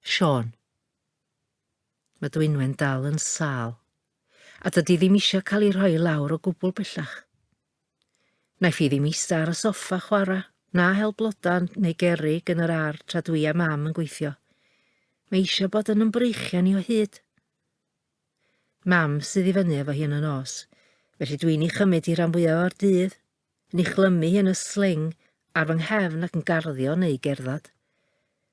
Siôn. Mae Dwynwen dal yn sal, a dydy ddim eisiau cael ei rhoi lawr o gwbl bellach. Naiff i ddim eista ar y soffa chwarae, na hel blodau neu gerig yn yr ar tra dwi a mam yn gweithio. Mae eisiau bod yn ymbreichian i o hyd. Mam sydd i fyny efo hi yn y nos, felly dwi'n ei chymryd hi rhan fwyaf o'r dydd, Yn ei chlymu hi yn y sling ar fy nghefn ac yn garddio yn eu gerdded.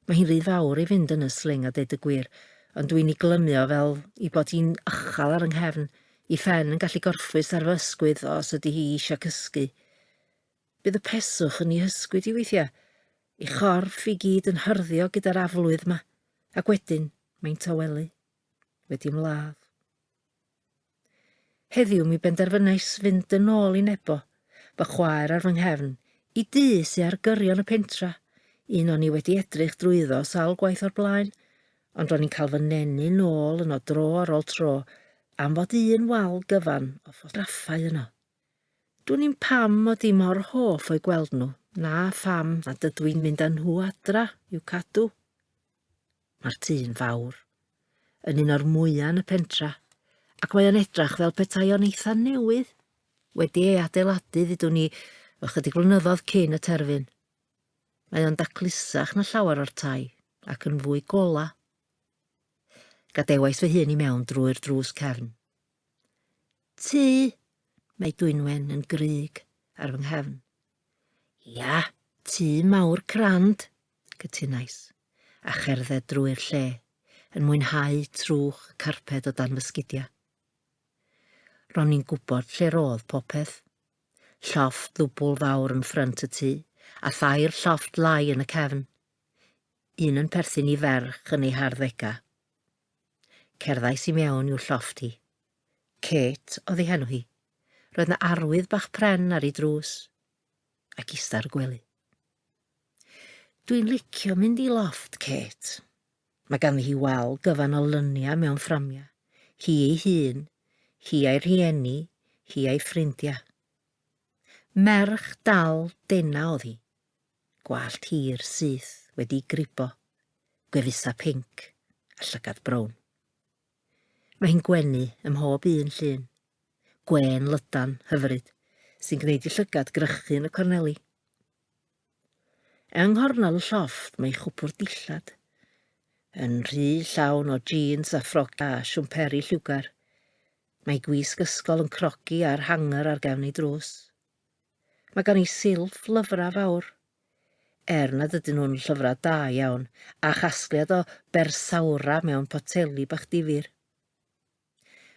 Mae hi'n rhy fawr i fynd yn y sling a deud y gwir, ond dwi'n ei glymu o fel i bod hi'n uchel ar fy nghefn, i phen yn gallu gorffwys ar fy ysgwydd os ydy hi eisiau cysgu. Bydd y peswch yn ei hysgwyd i weithiau, ei chorff i gyd yn hyrddio gyda'r aflwydd yma, ac wedyn mae'n tawelu. Wedi ymladd. Heddiw mi benderfynais fynd yn ôl i Nebo, fy chwaer ar fy nghefn, i dŷ sy ar gyrion y pentra, un o'n i wedi edrych drwyddo sawl gwaith o'r blaen, ond ro'n i'n cael fy nenu nôl yno dro ar ôl tro am fod un wal gyfan o ffotograffau yno. Dwn i'm pam mod i mor hoff o'i gweld nhw, na pham nad ydw i'n mynd â nhw adra i'w cadw. Mae'r ty'n fawr. Yn un o'r mwya yn y pentra, ac mae o'n edrach fel petai o'n eitha newydd, wedi ei adeiladu, ddudwn ni, ychydig flynyddodd cyn y terfyn. Mae o'n daclusach na llawer o'r tai, ac yn fwy gola. Gadewais fy hun i mewn drwy'r drws cefn. Ty! Mae Dwynwen yn grug ar fy nghefn. Ia, tŷ mawr crand, cytunais, a cherdded drwy'r lle, yn mwynhau trwch y carped o dan fy sgidiau. Ro'n i'n gwybod lle roedd popeth. Llofft ddwbl fawr yn ffrynt y tŷ, a thair llofft lai yn y cefn. Un yn perthyn i ferch yn ei harddegau, Cerddais i mewn i'w llofft hi. Kate oedd ei henw hi. Roedd na arwydd bach pren ar ei drws. Ac ista ar y gwely. Dwi'n licio mynd i loft, Kate. Mae ganddi hi wal gyfan o lyniau mewn fframiau. Hi ei hun, hi a'i rhieni, hi a'i ffrindiau. Merch dal dena oedd hi. gwallt hir syth wedi gribo, gwefusau pinc a llygad brown. Mae hi'n gwenu ym mhob un llun, gwên lydan hyfryd sy'n gwneud i llygad grychu yn y corneli. Yng nghornel y llofft mae chwpwr dillad, yn rhy llawn o jeans a ffroga a siwmperi lliwgar. Mae gwisg ysgol yn crogi ar hanger ar gefn ei drws. Mae gan ei silff lyfrau fawr. Er nad ydyn nhw'n llyfrau da iawn, a chasgliad o bersawra mewn poteli bach difyr.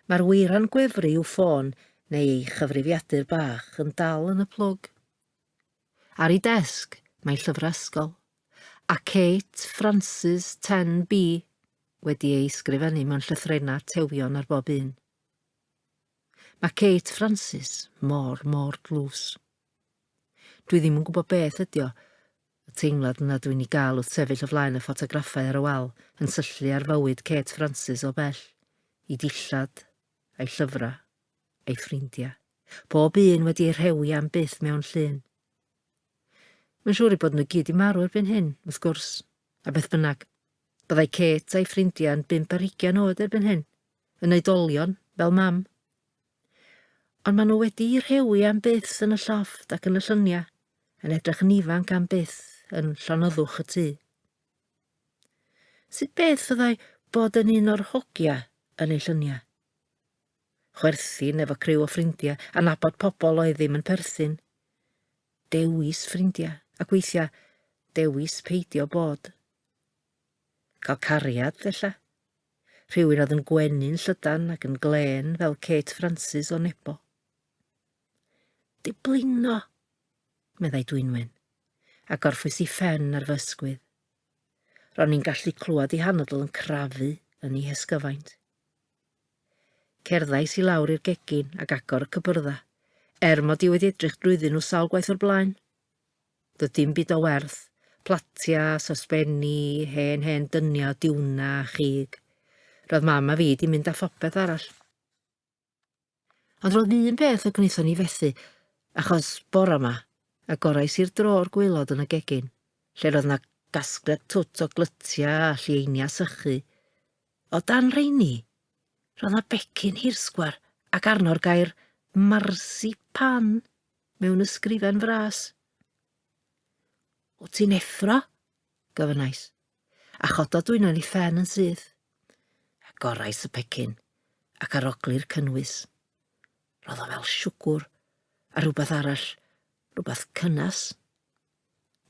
Mae'r weiran gwefru i'w ffôn neu ei chyfrifiadur bach yn dal yn y plwg. Ar ei desg, mae llyfrau ysgol, a Kate Francis 10B wedi ei sgrifennu mewn llythrennau tewion ar bob un. Mae Kate Francis mor, mor dlws. Dwi ddim yn gwybod beth ydi o, y teimlad yna dwi'n ei gael wrth sefyll o flaen y ffotograffau ar y wal yn syllu ar fywyd Kate Francis o bell, ei dillad, a'i llyfrau, a'i ffrindiau, bob un wedi ei rhewi am byth mewn llun. Mae'n siŵr ei bod nhw gyd i marw erbyn hyn, wrth gwrs, a beth bynnag. Byddai Kate a'i ffrindiau yn bump ar hugain oed erbyn hyn, Yn oedolion, fel mam. Ond maen nhw wedi'u rhewi am byth yn y llofft ac yn y llyniau, yn edrych yn ifanc am byth yn llonoddwch y tŷ. Sut beth fyddai bod yn un o'r hogia yn ei llyniau? Chwerthin efo criw o ffrindiau a nabod pobl oedd ddim yn perthyn. Dewis ffrindiau, ac weithiau dewis peidio bod. Cael cariad, ella, rhywun oedd yn gwenu'n llydan ac yn glên fel Kate Francis o Nebo. Diblingo! meddai Dwynwen, a gorffwys i ffen ar fy ysgwydd. Ro'n i'n gallu clywed i hanodl yn crafu yn ei hesgyfaint. Cerddais i lawr i'r gegin ac agor y cybyrddau, er mod i wedi edrych drwyddyn nhw sawl gwaith o'r blaen. Doedd dim byd o werth, platia, sosbeni, hen hen dynia o diwna a chig. Roedd mam a fi di mynd â phopeth arall. Ond roedd un peth y gwnaethon ni fethu, achos bora ma, agorais i'r drôr gwaelod yn y gegin, lle roedd na gasgliad twt o glytia a llieinia sychu. O dan reini, roedd na becyn hirsgwar ac arno'r gair marsipan. mewn ysgrifen fras. O ti'n effro? gofynnais, a chodo dwyno ni ffen yn syth. A gorais y pecyn, ac arogli'r cynnwys. Roedd o fel siwgwr, a rhywbeth arall, rhywbeth cynnas.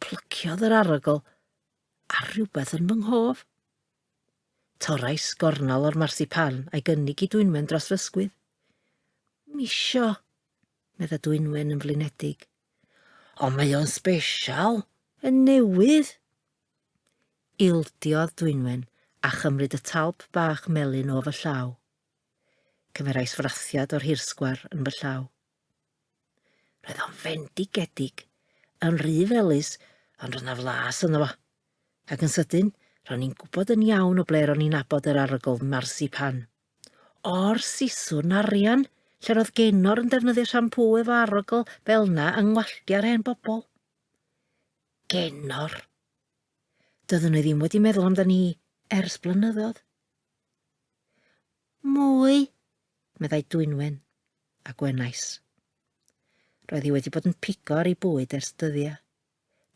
Plyciodd yr arogl, a rhywbeth yn fy nghof. Torais gornol o'r marsipan a'i gynnig i dwynwen dros fy ysgwydd. Misio, Medda Dwynwen yn flinedig. Ond mae o'n sbesial! Yn newydd! Ildiodd Dwynwen a chymryd y talp bach melyn o fy llaw. Cymerais frathiad o'r hirsgwar yn fy llaw. Roedd o'n fendigedig, yn rhy felus, ond roedd na flas yno fo. Ac yn sydyn, ro'n i'n gwybod yn iawn o ble ro'n i'n abod yr arogl marsipan. O'r siswrn arian lle roedd Genor yn defnyddio siampŵ efo arogl fel na yng ngwallti ar hen bobl. Genor. Doeddwn i ddim wedi meddwl amdani hi ers blynyddoedd. Mwy, meddai Dwynwen, a gwenais. Roedd hi wedi bod yn pigo ar ei bwyd ers dyddiau.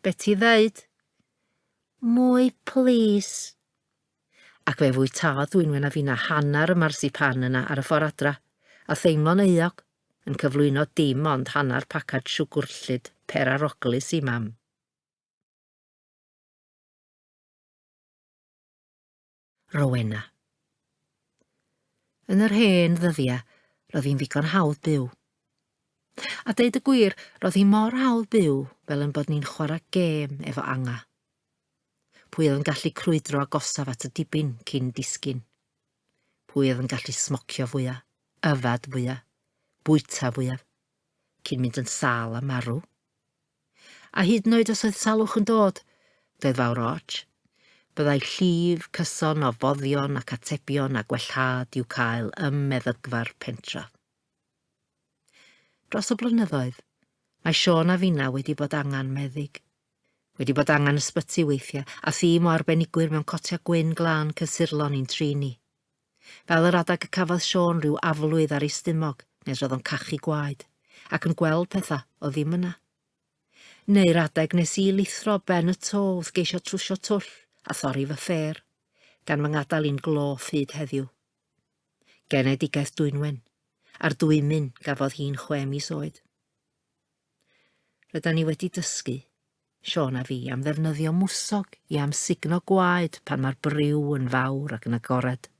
Be ti ddeud? Mwy plis! Ac fe fwytaodd Dwynwen a finna hanner y marsipan yna ar y ffor adra, a theimlo'n euog, yn cyflwyno dim ond hanner pacad siwgwr llid pêr a roglis i Mam. Rowena. Yn yr hen ddyddiau, roedd hi'n ddigon hawdd byw. A deud y gwir, roedd hi mor hawdd byw fel yn bod ni'n chwarae gêm efo anga. Pwy oedd yn gallu crwydro agosaf at y dibyn cyn disgyn? Pwy oedd yn gallu smocio fwya, yfad fwya, bwyta fwyaf, cyn mynd yn sal a marw? A hyd yn oed os oedd salwch yn dod, doedd fawr ots. Byddai llif, cyson, ofoddion ac atebion a gwellhad i'w cael ym meddygfa'r pentref. Dros y blynyddoedd, mae Siôn a finna wedi bod angen meddyg. Wedi bod angen ysbyty weithiau, a thîm o arbenigwyr mewn cotiau gwyn glân cysurlon i'n trin ni. Fel yr adeg y cafodd Siôn rhyw aflwydd ar ei stumog nes roedd o'n cachu gwaed, ac yn gweld pethau oedd ddim yna. Neu'r adeg nes i lithro ben y to wrth geisio trwsio twll a thorri fy ffêr, gan fy ngadael i'n gloff hyd heddiw. Genedigaeth Dwynwen, a'r dwymyn gafodd hi'n chwe mis oed. Rydan ni wedi dysgu Siôn a fi am ddefnyddio mwsog i amsugno gwaed pan mae'r briw yn fawr ac yn agored.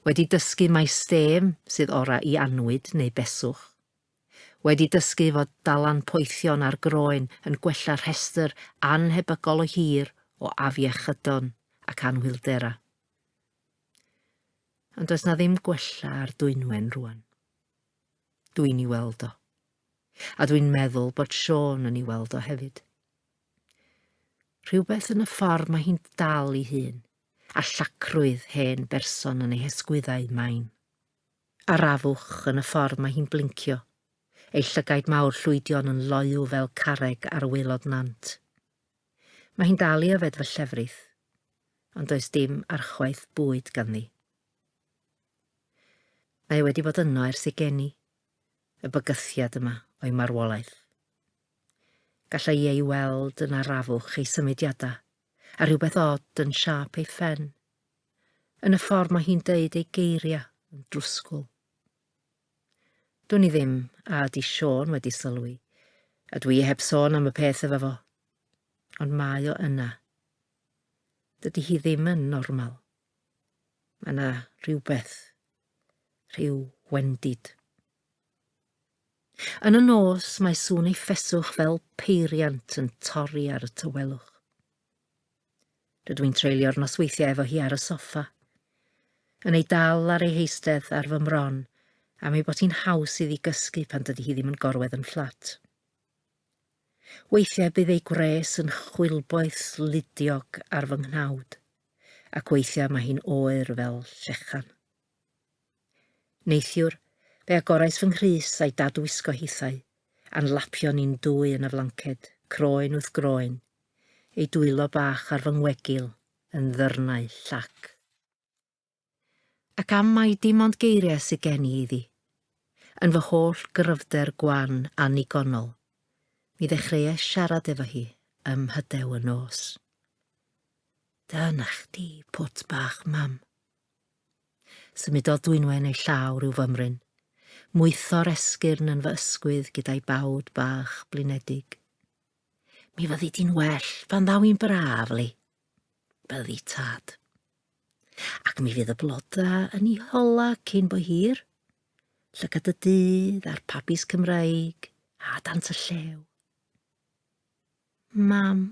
Wedi dysgu mai stêm sydd orau i annwyd neu beswch. Wedi dysgu fod dalan poethion ar groen yn gwella rhestr annhebygol o hir o afiechydon ac anhwylderau. Ond does na ddim gwella ar dwynwen rwan. Dwi'n i weld o. A dwi'n meddwl bod Siôn yn ei weld o hefyd. Rhywbeth yn y ffordd mae hi'n dal i hun, a llacrwydd hen berson yn ei hesgwyddau main. A'r afwch yn y ffordd mae hi'n blincio, ei llygaid mawr llwydion yn loyw fel carreg ar waelod nant. Mae hi'n dal i yfed fy llefrith, ond does dim archwaeth bwyd ganddi. Mae e wedi bod yno ers ei geni, y bygythiad yma o'i marwolaeth. Gallai ei weld yn arafwch ei symudiadau, a rhywbeth od yn siâp ei phen, yn y ffordd mae hi'n deud ei geiriau yn drwsgwl. Dwn i ddim a ydy Sean wedi sylwi, a dwi heb sôn am y peth efo fo. Ond mae o yna. Dydy hi ddim yn normal. Mae yna rhywbeth rhyw wendid. Yn y nos mae sŵn ei ffeswch fel peiriant yn torri ar y tywelwch. Rydw i'n treulio'r nosweithiau efo hi ar y soffa, yn ei dal ar ei heistedd ar fy mron am ei bod hi'n haws iddi gysgu pan dydy hi ddim yn gorwedd yn fflat. Weithiau bydd ei gwres yn chwilboeth ludiog ar fy nghnawd. ac weithiau mae hi'n oer fel llechan. Neithiwr, fe agorais fy nghrys a'i dad wisgo hithau, a'n lapio ni'n dwy yn y flanced, croen wrth groen, ei dwylo bach ar fy ngwegil yn ddyrnau llac. Ac am mai dim ond geiriau sydd gen i iddi. Yn fy holl gryfder gwan annigonol, mi ddechreuais siarad efo hi ym Mhyddew y nos. Dyna chdi, pwt bach, mam. Symudodd dwynwen ei llaw rhyw fymryn. Mwytho'r esgyrn yn fy ysgwydd gyda'i bawd bach blinedig. Mi fyddi di'n well pan ddaw i'n braf, Li. Byddi tad. Ac mi fydd y bloda yn ei hola cyn bo hir. Llygad y dydd a'r pabis Cymraeg a dant y llew. Mam,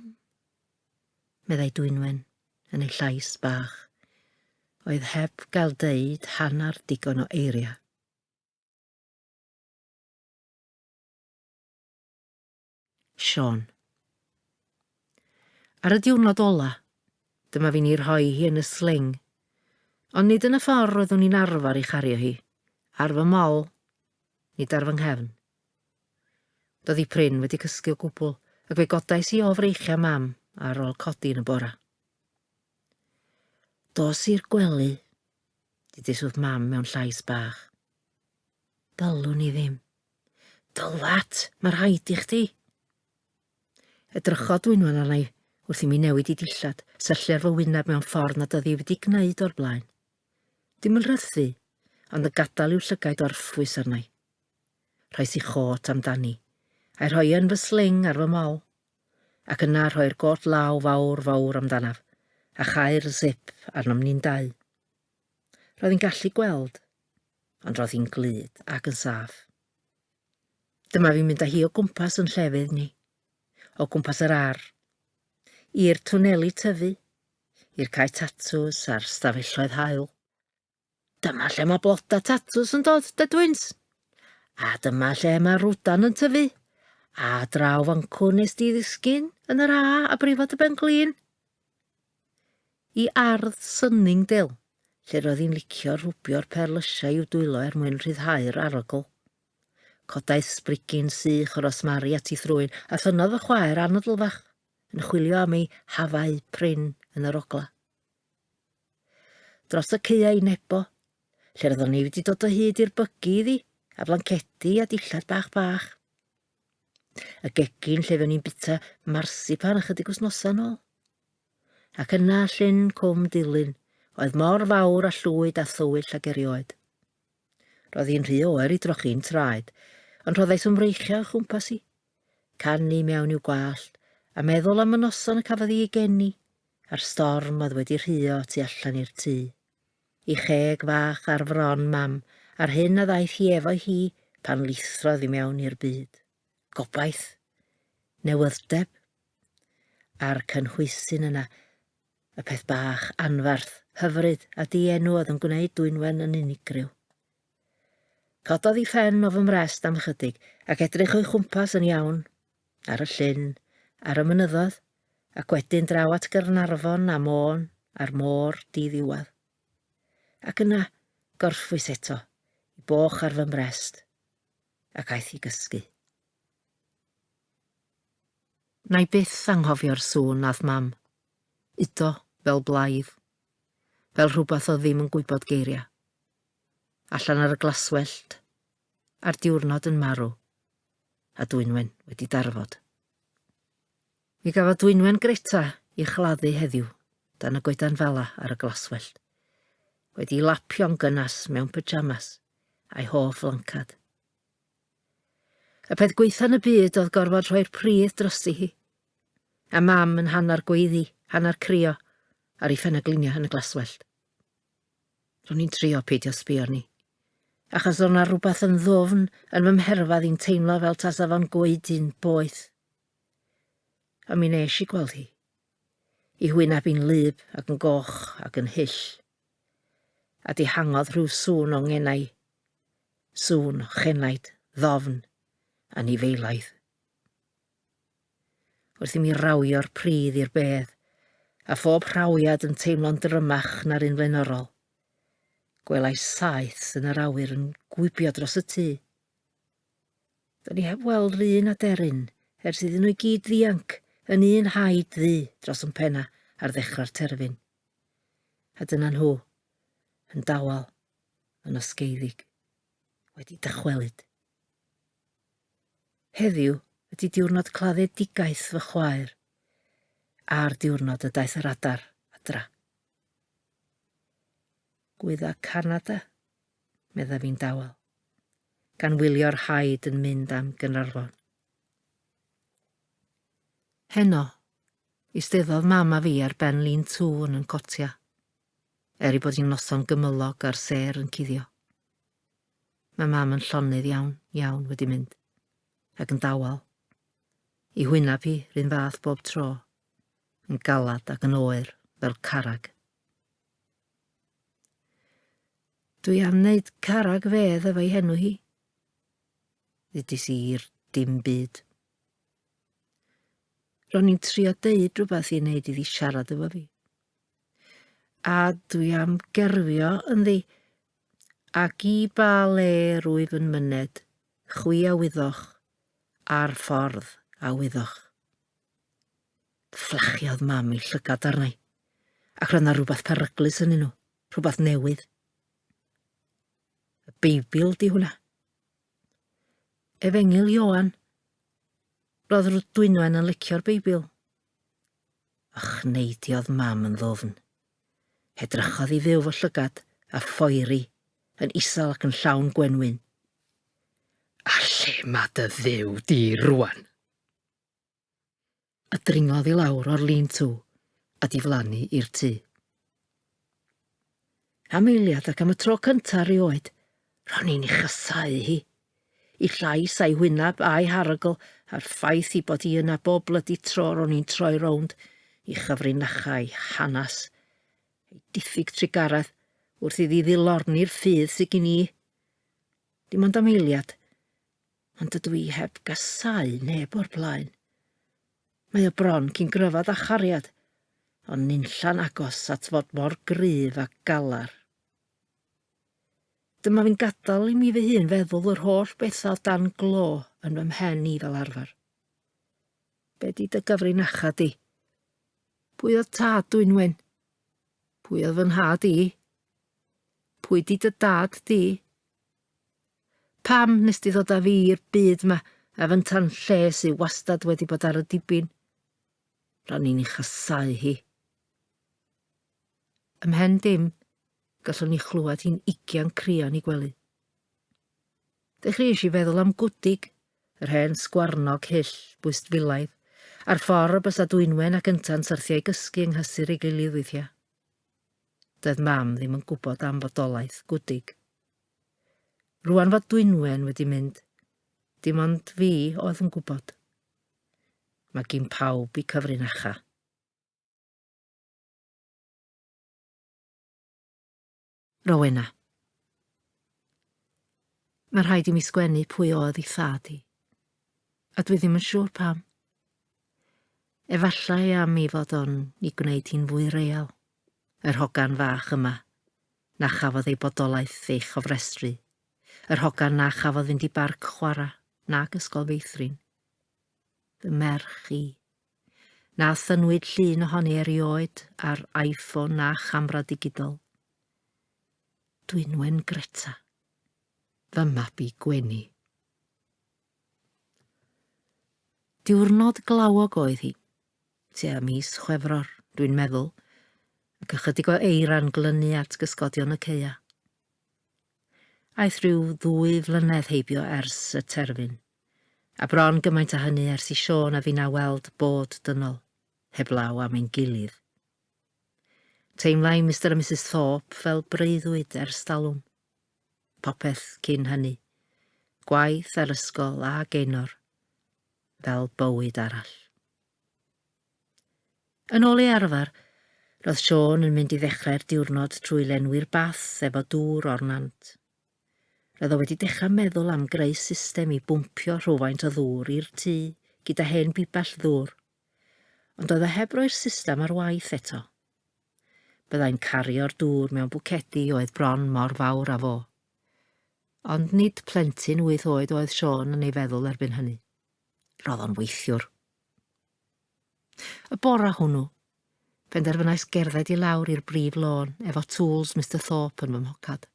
meddai Dwynwen yn ei llais bach, oedd heb gael deud hanner digon o eiriau. Siôn. Ar y diwrnod ola, dyma fi'n ei rhoi hi yn y sling. Ond nid yn y ffordd roeddwn i'n arfer ei chario hi, ar fy mol, nid ar fy nghefn. Doedd hi prin wedi cysgu o gwbl, ac fe godais i o freichiau mam ar ôl codi yn y bora. Dos i'r gwely, didiswth mam mewn llais bach. Dylwn i ddim, Dylwat, mae rhaid i chdi! Edrychodd Dwynwen arna i wrth i mi newid i dillad, syllu ar fy wyneb mewn ffordd nad oedd hi wedi gwneud o'r blaen. Dim yn rhythu, ond yn gadael i'w llygaid orffwys arna i. Rhoes i chôt amdani, a'i rhoi yn fy sling ar fy mol, ac yna rhoi'r gôt law fawr, fawr amdanaf, a chau'r zip arnom ni'n dau. Roedd hi'n gallu gweld, ond roedd hi'n glyd ac yn saff. Dyma fi'n mynd â hi o gwmpas yn llefydd ni, o gwmpas yr ar, i'r twneli tyfu, i'r cae tatws a'r stafelloedd hael. Dyma lle mae bloda tatws yn dod, dydwyns. A dyma lle mae rwdan yn tyfu. A draw fancwn nes di ddisgyn yn yr A a brifo dy ben glin. I ardd Sunningdale, lle roedd hi'n licio rhwbio'r perlysiau i'w dwylo er mwyn rhyddhau'r arogl. Codais sbrigyn sych o rosmari at ei thrwyn, a thynnodd fy chwaer anadl fach, yn chwilio am ei hafau prin yn yr ogla. Dros y caeau i Nebo, lle roeddwn i wedi dod o hyd i'r bygi iddi, a blancedi a dillad bach bach. Y gegin lle fewn i'n bita marsipan ychydig wythnosau nôl. Ac yna llyn cwm dilyn, oedd mor fawr a llwyd a thywyll ag erioed. Roedd hi'n rhy oer i drochi'n traed, ond rhoddais ymreichio o chwmpas i. Canu mewn i'w gwallt, a meddwl am y noson y cafodd i ei geni, a'r storm oedd wedi rhuo tu allan i'r tŷ. I cheg fach ar fron Mam a'r hyn a ddaeth hi efo hi pan lithrodd i mewn i'r byd. Gobaith. Newydd'deb. A'r cynhwysyn yna. Y peth bach, anferth, hyfryd a di-enw oedd yn gwneud Dwynwen yn unigryw. Cododd i phen o fy mrest am ychydig ac edrych o'i chwmpas yn iawn. ar y llyn, ar y mynyddoedd, ac wedyn draw at Gaernarfon a Môn a'r môr di-ddiwedd. Ac yna, gorffwys eto, i boch ar fy mrest, ac aeth i gysgu. Nai byth anghofio'r sŵn nath Mam udo fel blaidd, fel rhywbeth oedd ddim yn gwybod geiriau. Allan ar y glaswellt, a'r diwrnod yn marw. a dwynwen wedi darfod. Mi gafodd dwynwen Greta i chladdu heddiw dan y goedan fala ar y glaswellt, wedi lapio'n gynnas mewn pyjamas a'i hoff lancad. Y peth gweitha yn y byd oedd gorfod rhoi'r pridd drosi hi, a mam yn hanner gweiddi, hanner crio, ar ei phen a glinio yn y glaswellt. Ro'n i'n trio peidio sbio arni. Achos ro'n na rhywbeth yn ddofn yn fy mherfedd i'n teimlo fel tasa fo'n goedu'n boeth. Ond mi nes i gweld hi. I hwyneb i'n lyb ac yn goch ac yn hyll. A dihangodd rhyw sŵn o ngenau. Sŵn o chenaid, ddofn, anifeilaidd. Wrth i mi rawio'r pridd i'r bedd, a phob rhawiad yn teimlo'n drymach na'r un flaenorol, gwelai saeth yn yr awyr yn gwibio dros y tŷ. Do'n i heb weld yr un aderyn ers iddyn nhw i gyd ddianc yn un haid ddu dros yn penna ar ddechrau'r terfyn. A dyna nhw, yn dawel, yn osgeiddig, wedi dychwelyd. Heddiw ydi diwrnod claddedigaeth fy chwaer, a'r diwrnod y daeth yr adar adra. Gwydda Canada, medda fi'n dawel, gan wylio'r haid yn mynd am Gynarfon. Heno, isteddodd mam a fi ar ben lin tŵn yn cotia, er ei bod hi'n noson gymylog a'r sêr yn cuddio. Mae mam yn llonydd iawn, iawn wedi mynd, ac yn dawel. I hwyneb hi, rhywun fath bob tro, yn galad ac yn oer, fel carag. Dwi am wneud carag fedd efo'i henw hi. Ddudis i i'r dim byd. Ro'n i'n trio deud rhywbeth i wneud iddi siarad efo fi. A dwi am gerfio ynddi, Ac i ba le rwyf yn myned, chwi a wyddoch, a'r ffordd a wyddoch. Fflachiodd mam ei llygad arna i, ac roedd na rhywbeth peryglus yn nhw, rhywbeth newydd. Y Beibl di hwnna. Efengil Ioan. Roedd Rwt Dwynwen yn licio'r Beibl. Och, neidiodd mam yn ddwfn. Edrychodd i fyw fy llygad, a phoeri, yn isel ac yn llawn gwenwyn. Ar lle mae dy dduw di rwan? A dringodd i lawr o'r lin tŵ a diflannu i'r tŷ. Am eiliad ac am y tro cyntaf rioed, ro'n i'n ei chasau hi. Y llais a'i wyneb a'i harogl a'r ffaith ei bod hi yna bob blydi tro ro'n i'n troi rownd i chyfrinachau hanes ei diffyg trugaredd wrth iddi ddilorni'r ffydd sydd gin i. Dim ond am eiliad, ond dydw i heb gasau neb o'r blaen. Mae o bron cyn gryfad â chariad, ond nunlla'n agos at fod mor gryf a galar. Dyma fi'n gadael i mi fy hun feddwl yr holl bethau o dan glo yn fy mhen i fel arfer. Be di dy gyfrinacha di? Pwy oedd tad dwi'n wyn? Pwy oedd fy nhad i? Pwy di dy dad di? Pam nes di ddod â fi i'r byd ma a fy tan lle sy'n wastad wedi bod ar y dibyn? Rhan i'n ei chasau hi. Ym mhen dim, gallwn ni chlywed hi'n ugian crio'n ei gwely. Dechreuais i feddwl am gwdig, yr hen sgwarnog hyll, bwyst filaidd, a'r ffordd y bysa Dwynwen ac Ynta'n syrthiau gysgu yng nghysur ei gilydd weithiau. Doedd mam ddim yn gwybod am fodolaeth gwdig. Rwan fod Dwynwen wedi mynd, dim ond fi oedd yn gwybod. Mae gyn pawb i cyfrinacha. Rowena. Mae rhaid i mi sgwennu pwy oedd i thad i. A dwi ddim yn siŵr pam. Efallai am i fod o'n i gwneud hi'n fwy real, yr hogan fach yma, na chafodd ei bodolaeth ei chofrestru, yr hogan na chafodd fynd i barc chwarae nag ysgol feithrin. Fy merch i. Na thynnwyd llun ohoni erioed ar iPhone na chamra digidol. Dwynwen Greta. Fy mabi gwenu. Diwrnod glawog oedd hi. Tua mis Chwefror, dwi'n meddwl, ac ychydig o eira'n glynu at gysgodion y ceia. Aeth rhyw ddwy flynedd heibio ers y terfyn. A bron gymaint â hynny ers i Siôn a finna weld bod dynol, heblaw am ein gilydd. Teimlai Mister a Misus Thorpe fel breuddwyd ers talwm. Popeth cyn hynny. Gwaith a'r ysgol a Gaenor. Fel bywyd arall. Yn ôl ei arfer, roedd Siôn yn mynd i ddechrau'r diwrnod trwy lenwi'r bath efo dŵr o'r nant. Roedd o wedi dechrau meddwl am greu system i bwmpio rhywfaint o ddŵr i'r tŷ gyda hen bibell ddŵr, ond oedd o heb roi'r system ar waith eto. Byddai'n cario'r dŵr mewn bwcedi oedd bron mor fawr â fo. Ond nid plentyn wyth oed oedd Siôn yn ei feddwl erbyn hynny. Roedd o'n weithiwr. Y bora hwnnw, penderfynais gerdded i lawr i'r brif lôn efo tools Mister Thorpe yn fy mhocad.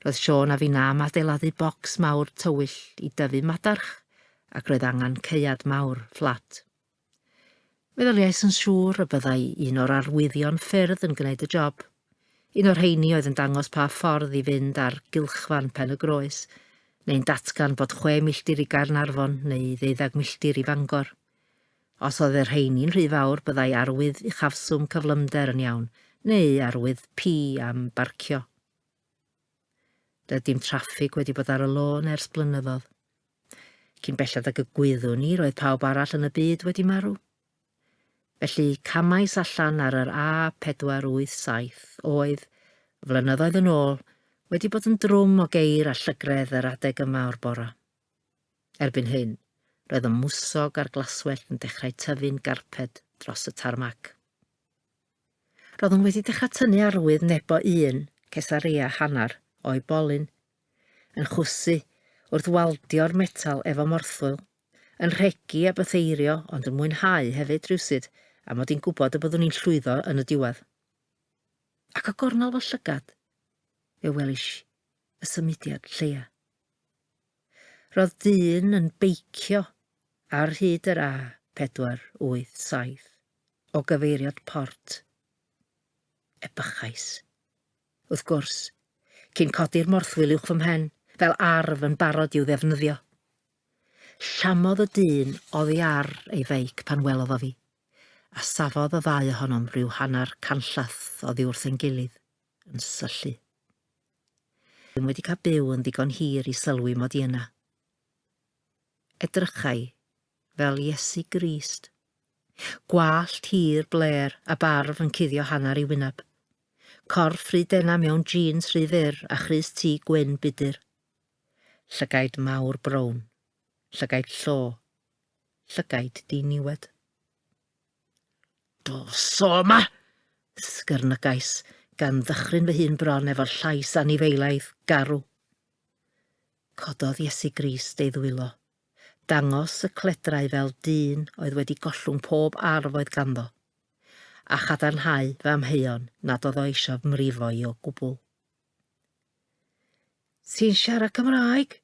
Roedd Siôn a finna am adeiladu bocs mawr tywyll i dyfu madarch ac roedd angen caead mawr, fflat. Meddyliais yn siŵr y byddai un o'r arwyddion ffyrdd yn gwneud y job. Un o'r rheini oedd yn dangos pa ffordd i fynd ar gylchfan Pen y Groes, neu'n datgan bod chwe milltir i Gaernarfon neu ddeuddeg milltir i Fangor. Os oedd y rheini'n rhy fawr byddai arwydd uchafswm cyflymder yn iawn, neu arwydd P am barcio. Doedd dim traffig wedi bod ar y lôn ers blynyddoedd. Cyn belled ag y gwyddwn i, roedd pawb arall yn y byd wedi marw. Felly, camais allan ar yr A487 oedd, flynyddoedd yn ôl, wedi bod yn drwm o geir a llygredd yr adeg yma o'r bora. Erbyn hyn, roedd y mwsog a'r glaswellt yn dechrau tyfu'n garped dros y tarmac. Roeddwn wedi dechrau tynnu arwydd nebo un cesaria hanner o'i bolyn, yn chwysu wrth waldio'r metal efo morthwyl, yn rhegi a bytheirio ond yn mwynhau hefyd rywsut a mod i'n gwybod y byddwn i'n llwyddo yn y diwedd. Ac o gornel fy llygad, fe welish y symudiad lleia. Roedd dyn yn beicio ar hyd yr A487 o gyfeiriad Port Epichais, wrth gwrs, cyn codi'r morthwyl uwch fy mhen, fel arf yn barod i'w ddefnyddio. Llamodd y dyn oddi ar ei feic pan welodd o fi, a safodd y ddau ohonom ryw hanner canllath oddi wrth ein gilydd, yn syllu. Rwy'n wedi cael byw yn ddigon hir i sylwi mod i yna. Edrychai fel Iesu Grist. Gwallt hir blêr a barf yn cuddio hanner ei wyneb. Corff rhy dena mewn jîns rhy fyr a chrys tŷ gwyn budur. Llygaid mawr brown. Llygaid llo. Llygaid diniwed. Dos o yma! ysgyrnygais, gan ddychryn fy hun bron efo'r llais anifeilaidd, garw. Cododd Iesu Grist ei ddwylo. Dangos y cledrau fel dyn oedd wedi gollwng pob arf oedd ganddo, a chadarnhau fy amheuon nad oedd o eisiau fy mrifo i o gwbl. Ti'n siarad Cymraeg?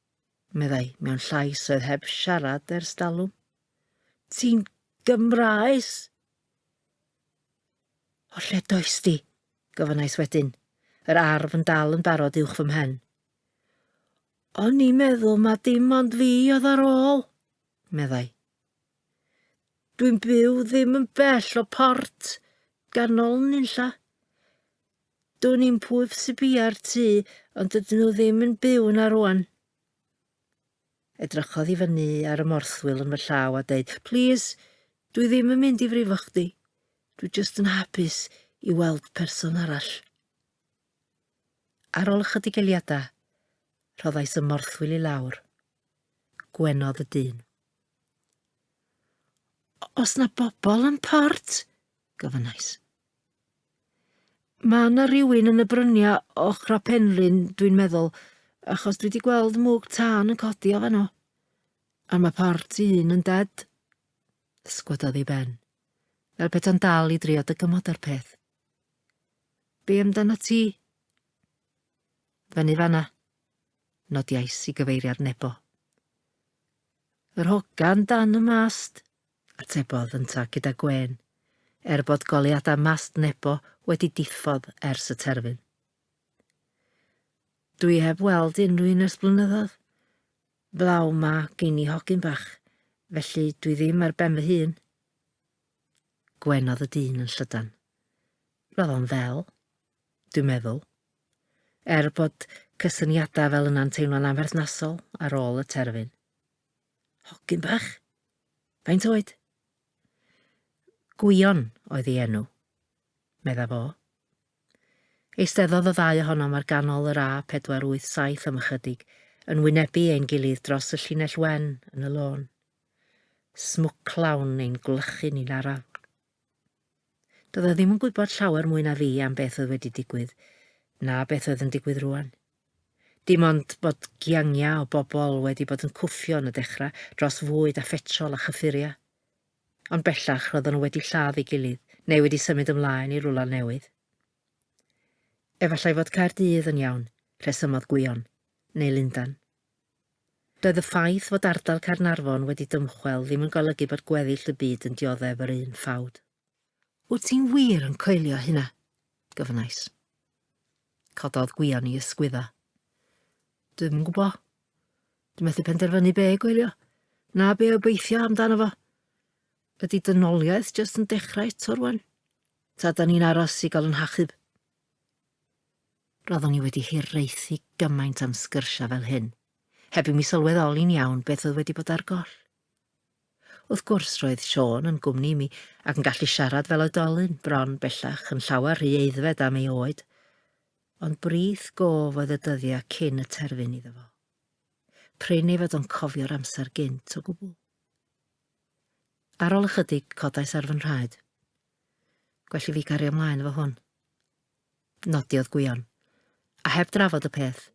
meddai, mewn llais oedd heb siarad ers dalwm. Ti'n Gymraes? O lle does di? gofynnais wedyn, yr arf yn dal yn barod uwch fy mhen. O'n i'n meddwl ma dim ond fi oedd ar ôl, meddai. Dwi'n byw ddim yn bell o port, ganol nunlla. Dwi'n i'n pwyb sy'n bia'r tŷ, ond dydyn nhw ddim yn byw na rwan. Edrychodd i fyny ar y morthwyl yn fy llaw a deud, Plîs, dwi ddim yn mynd i frifo chdi. Dwi jyst yn hapus i weld person arall. Ar ôl ychydig eliadau, rhoddais y morthwyl i lawr. Gwenodd y dyn. Os na bobl yn port, gofynnais. Mae yna rywun yn y bryniau o Chrapenlyn, dwi'n meddwl, achos dwi wedi gweld mwg tân yn codi o fanno. A mae part un yn ded. Sgwadadd i ben, fel peta'n dal i drio dy gymod ar peth. Be amdana ti? Fyny fanna, nodiais i gyfeiriad nebo. Yr hogan dan y mast, atebodd yntau gyda gwên, er bod goleuadau mast Nebo wedi diffodd ers y terfyn. Dw i heb weld unrhyw un ers blynyddoedd. Flaw ma gyn i hogyn bach, felly dw i ddim ar ben fy hun. Gwenodd y dyn yn llydan. Roedd o'n ddel, dwi'n meddwl. Er bod cysyniadau fel yna'n teimlo'n amherthnasol ar ôl y terfyn. Hogyn bach? Faint oed? Gwion oedd ei enw, medda fo. Eisteddodd y ddau ohonom ar ganol yr A487 am ychydig, yn wynebu ein gilydd dros y llinell wen yn y lôn. Smwclawn ein gwlychu ni'n araf. Doedd e ddim yn gwybod llawer mwy na fi am beth oedd wedi digwydd, na beth oedd yn digwydd rwan. Dim ond bod giangiau o bobl wedi bod yn cwffio yn y dechrau dros fwyd a phetrol a chyffuriau. Ond bellach roeddwn nhw wedi lladd ei gilydd, neu wedi symud ymlaen i rwla newydd. Efallai fod Caerdydd yn iawn, rhesymodd Gwion, neu Lundan. Doedd y ffaith fod ardal Caernarfon wedi dymchwel ddim yn golygu bod gweddill y byd yn dioddef yr un ffawd. Wyt ti'n wir yn coelio hynna? gofynnais. Cododd gwion i ysgwyddo. Dwi'm yn gwybod. Dwi'n methu penderfynu be gwylio, na be obeithio amdano fo. Ydy dynoliaeth jyst yn dechrau eto rwan? Ta da ni'n aros i gael yn hachub? Roeddwn i wedi hiraethu gymaint am sgyrsiau fel hyn, heb i mi sylweddoli'n iawn beth oedd wedi bod ar goll. Wrth gwrs, roedd Siôn yn gwmni i mi ac yn gallu siarad fel oedolyn, bron bellach yn llawer rhy eiddfed am ei oed, ond brith gof oedd y dyddiau cyn y terfyn iddo fo. Prin ei fod o'n cofio'r amser gynt o gwbl. Ar ôl ychydig, codais ar fy nhraed. Gwell i fi gario mlaen efo hwn. Nodiodd Gwion. A heb drafod y peth,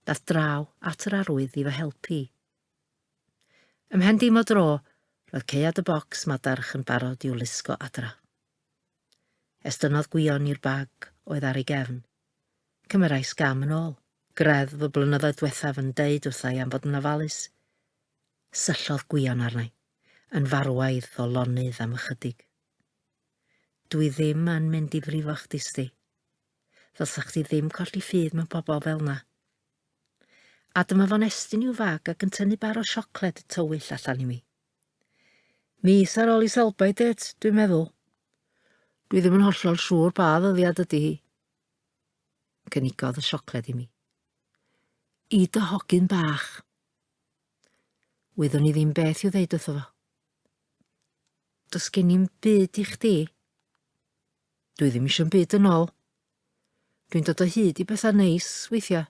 dath draw at yr arwydd i fy helpu i. Ym mhen dim o dro, roedd caead y bocs madarch yn barod i'w lusgo adra. Estynnodd Gwion i'r bag oedd ar ei gefn. Cymerais gam yn ôl. Greddf y blynyddoedd dwethaf yn deud wrthai am fod yn ofalus. Syllodd Gwion arnai, yn farwaidd o lonydd am ychydig. Dwi ddim yn mynd i frifo chdi sti. Ddylsa chdi ddim colli ffydd mewn pobl fel na. A dyma fo'n estyn i'w fag ac yn tynnu bar o siocled y tywyll allan i mi. Mis ar ôl i Selby date, dwi'n meddwl. Dwi ddim yn hollol siŵr pa ddyddiad ydy hi. Cynigodd y siocled i mi. I dy hogyn bach. Wyddwn i ddim beth i'w ddeud wrtho fo. Does gen i'm byd i chdi. Dwi ddim eisiau'n byd yn ôl. Dwi'n dod o hyd i bethau neis weithiau.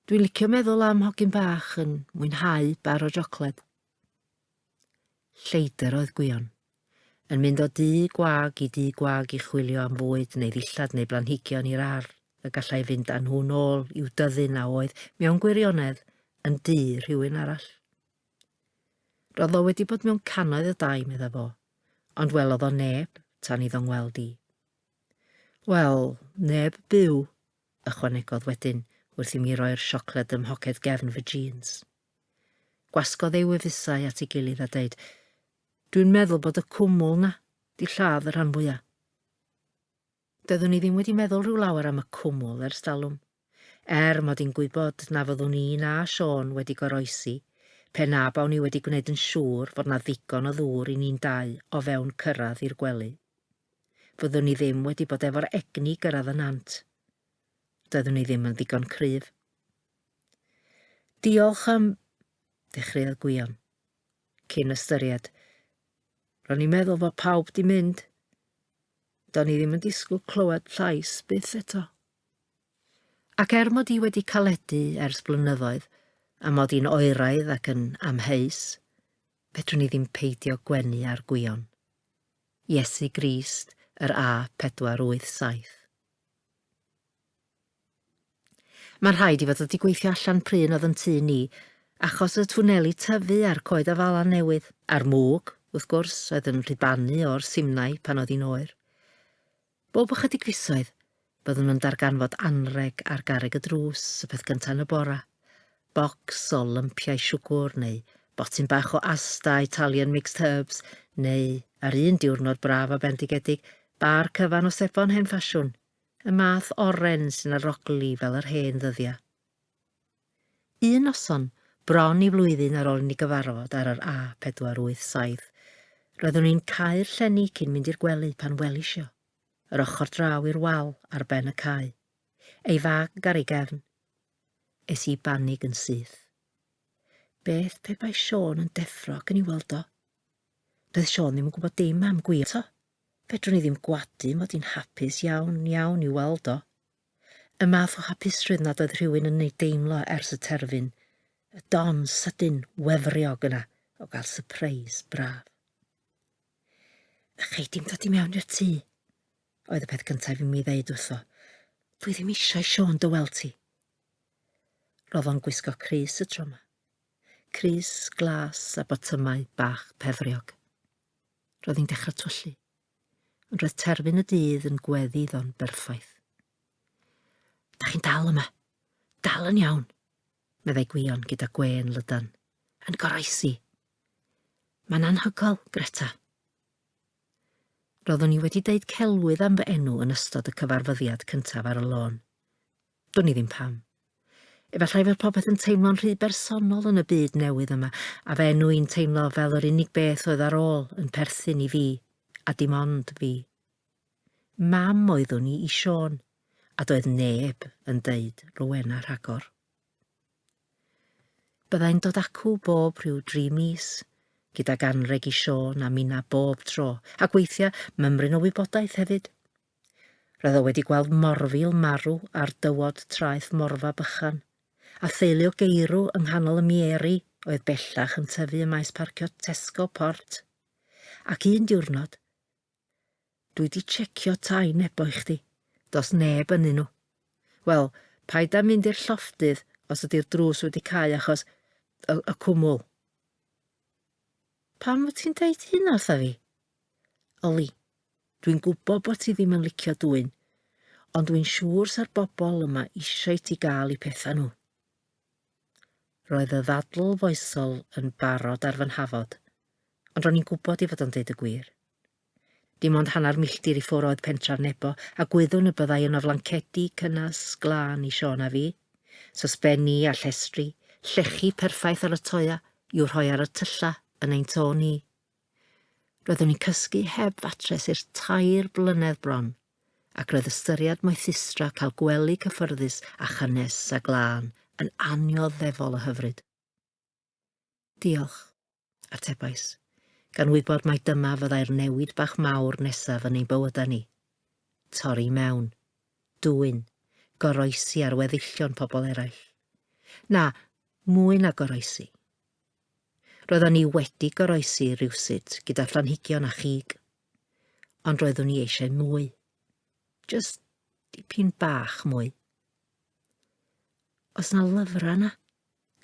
Dwi'n licio meddwl am hogyn bach yn mwynhau bar o jocled. Lleidr oedd Gwion. Yn mynd o dŷ gwag i dŷ gwag i chwilio am fwyd neu ddillad neu blanhigion i'r ardd y gallai fynd â nhw'n ôl i'w dyddyn a oedd, mewn gwirionedd, yn dŷ rhywun arall. Roedd o wedi bod mewn cannoedd o dai, medda fo, ond welodd o neb tan iddo ngweld i. Wel, neb byw, ychwanegodd wedyn wrth i mi roi'r siocled ym mhoced gefn fy jîns. Gwasgodd ei wefusau at ei gilydd a deud, Dwi'n meddwl bod y cwmwl 'na 'di lladd y rhan fwya'. Doeddwn i ddim wedi meddwl rhyw lawer am y cwmwl ers talwm, er mod i'n gwybod na fyddwn i na Siôn wedi goroesi pe na bawn i wedi gwneud yn siŵr fod 'na ddigon o ddŵr i ni'n dau o fewn cyrraedd i'r gwely. Fyddwn i ddim wedi bod efo'r egni i gyrraedd y nant. Doeddwn i ddim yn ddigon cryf. Diolch am... ddechreuodd Gwion. Cyn ystyried. Ro'n i'n meddwl fod pawb di mynd. Do'n i ddim yn disgwyl clywed llais byth eto. Ac er mod i wedi caledu ers blynyddoedd, a mod i'n oeraidd ac yn amheus, fedrwn i ddim peidio gwenu ar Gwion. Iesu Grist yr A487. Mae'n rhaid i fod wedi gweithio allan pryn oedd yn tŷ ni, achos y twneli tyfu a'r coed afalan newydd. A'r mwg, wrth gwrs, oedd yn rhibanu o'r simnai pan oedd hi'n oer. Bob ychydig fisoedd, byddwn yn darganfod anrheg ar garreg y drws, y peth gyntaf yn y bora. Bocs o lympiau siwgwr, neu botyn bach o asta Italian mixed herbs, neu, ar un diwrnod braf a bendigedig, bar cyfan o sebon hen ffasiwn. Y math oren sy'n arogli fel yr hen ddyddia. Un noson, bron i flwyddyn ar ôl i ni gyfarfod ar yr A487, roeddwn i'n cau'r llenni cyn mynd i'r gwely pan welisio, yr ochr draw i'r wal ar ben y cae, ei fag ar ei gefn. Es i banig yn syth. Beth pe bai Siôn yn deffro ac yn i weld o? Doedd Siôn ddim yn gwybod dim am gwir to. Fedrwn i ddim gwadu mod i'n hapus iawn, iawn i'w weld o. Y math o hapusrwydd nad oedd rhywun yn ei deimlo ers y terfyn, y don sydyn, wefriog yna o gael sypreis braf. A chei dim dod i mewn i'r tŷ, oedd y peth cyntaf i mi ddeud wrtho. Dwi ddim eisiau Siôn dy weld ti. Roedd o'n gwisgo crys y tro yma. Crys, glas a botymau bach pefriog. Roedd hi'n dechrau twyllu, ond roedd terfyn y dydd yn gweddi iddo'n berffaith. Da chi'n dal yma. Dal yn iawn, meddai Gwion gyda gwên lydan. Yn goroesi. Mae'n anhygoel, Greta. Roeddwn i wedi deud celwydd am fy enw yn ystod y cyfarfyddiad cyntaf ar y lôn. Dwn i ddim pam. Efallai fod popeth yn teimlo'n rhy bersonol yn y byd newydd yma, a fy enw i'n teimlo fel yr unig beth oedd ar ôl yn perthyn i fi, a dim ond fi. Mam oeddwn i i Siôn, a doedd neb yn deud Rowena rhagor. Byddai'n dod acw bob rhyw dri mis, gyda ganreg i Siôn a Mina bob tro, ac weithiau mymryn o wybodaeth hefyd. Roedd o wedi gweld morfil marw ar dywod traeth Morfa Bychan, a theulu o geirw yng nghanol y mieri oedd bellach yn tyfu ym maes parcio Tesco Port. Ac un diwrnod, Dwi 'di checio tai nebo i chdi. Does neb ynnyn nhw. Wel, paid â mynd i'r llofftydd os ydi'r drws wedi cau achos y cwmwl. Pam wyt ti'n deud hynna wrtha fi? Oli, dwi'n gwybod bod ti ddim yn licio dwyn, ond dwi'n siŵr sa'r bobl yma eisiau ti gael i pethau nhw. Roedd y ddadl foesol yn barod ar fy nhafod, ond ro'n i'n gwybod i fod o'n deud y gwir. Dim ond hanner milltir i ffwr oedd pentref Nebo, a gwyddwn y byddai yno flancedi cynnes, glân i Siôn a fi. Sosbenni a llestri, llechi perffaith ar y toea i'w rhoi ar y tyllau yn ein to ni. Roeddwn i'n cysgu heb fatres i'r tair blynedd bron, ac roedd ystyried moethustra cael gwely cyffyrddus a chynnes a glân yn annioddefol o hyfryd. Diolch, atebais, gan wybod mai dyma fyddai'r newid bach mawr nesaf yn ein bywydau ni. Torri mewn. Dwyn. Goroesi ar weddillion pobl eraill. Na, mwy na goroesi. Roeddwn ni wedi goroesi rywsut gyda phlanhigion a chig, ond roeddwn ni eisiau mwy. Just dipyn bach mwy. Os na lyfrau na,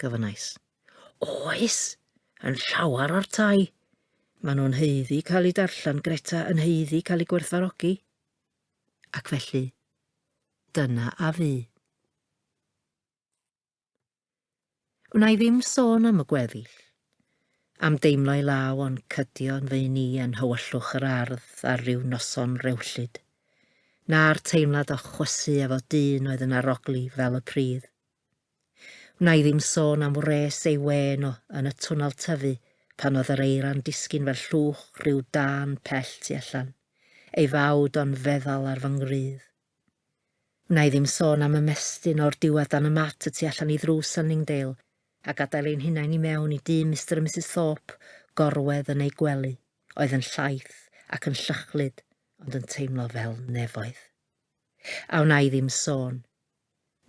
gofynnais. Oes, yn llawer o'r tai. Maen nhw'n heiddi cael eu darllen, Greta, yn heiddi cael eu gwerthfarogi. Ac felly, dyna a fu. Wna i ddim sôn am y gweddill, am deimlo i law o'n cydio yn fy ni yn hywyllwch yr ardd ar ryw noson rewllyd, na'r teimlad o chwysu efo dyn oedd yn arogli fel y pridd. Wna i ddim sôn am wres ei wên o yn y twnnel tyfu pan oedd yr eira'n disgyn fel llwch rhyw dân pell tu allan, ei fawd o'n feddal ar fy ngwrydd. Wna i ddim sôn am ymestyn o'r diwedd dan y mat y tu allan i ddrws Sunningdale a gadael ein hunain i mewn i dŷ Mister a Misus Thorpe gorwedd yn eu gwely, oedd yn llaith ac yn llychlyd ond yn teimlo fel nefoedd. A wna i ddim sôn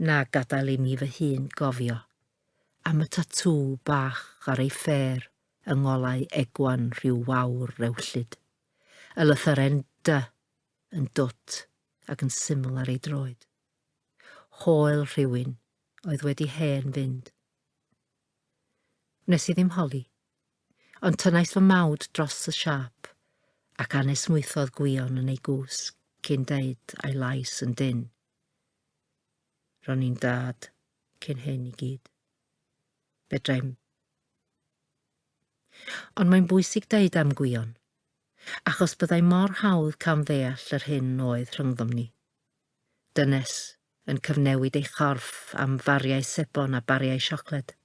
Na gadael i mi fy hun gofio am y tatŵ bach ar ei ffêr yng ngolau Egwan rhyw wawr rewllyd, y lythyren 'dy' yn dwt ac yn syml ar ei droed. Hoel rhywun oedd wedi hen fynd. Wnes i ddim holi, ond tynnais fy mawd dros y siâp ac anesmwythodd gwion yn ei gwsg cyn deud a'i lais yn dynn. Ro'n i'n dad cyn hyn i gyd. Fedrai'm. Ond mae'n bwysig deud am Gwion, achos byddai mor hawdd camddeall yr hyn oedd rhyngddom ni. Dynes yn cyfnewid ei chorff am fariau sebon a bariau siocled.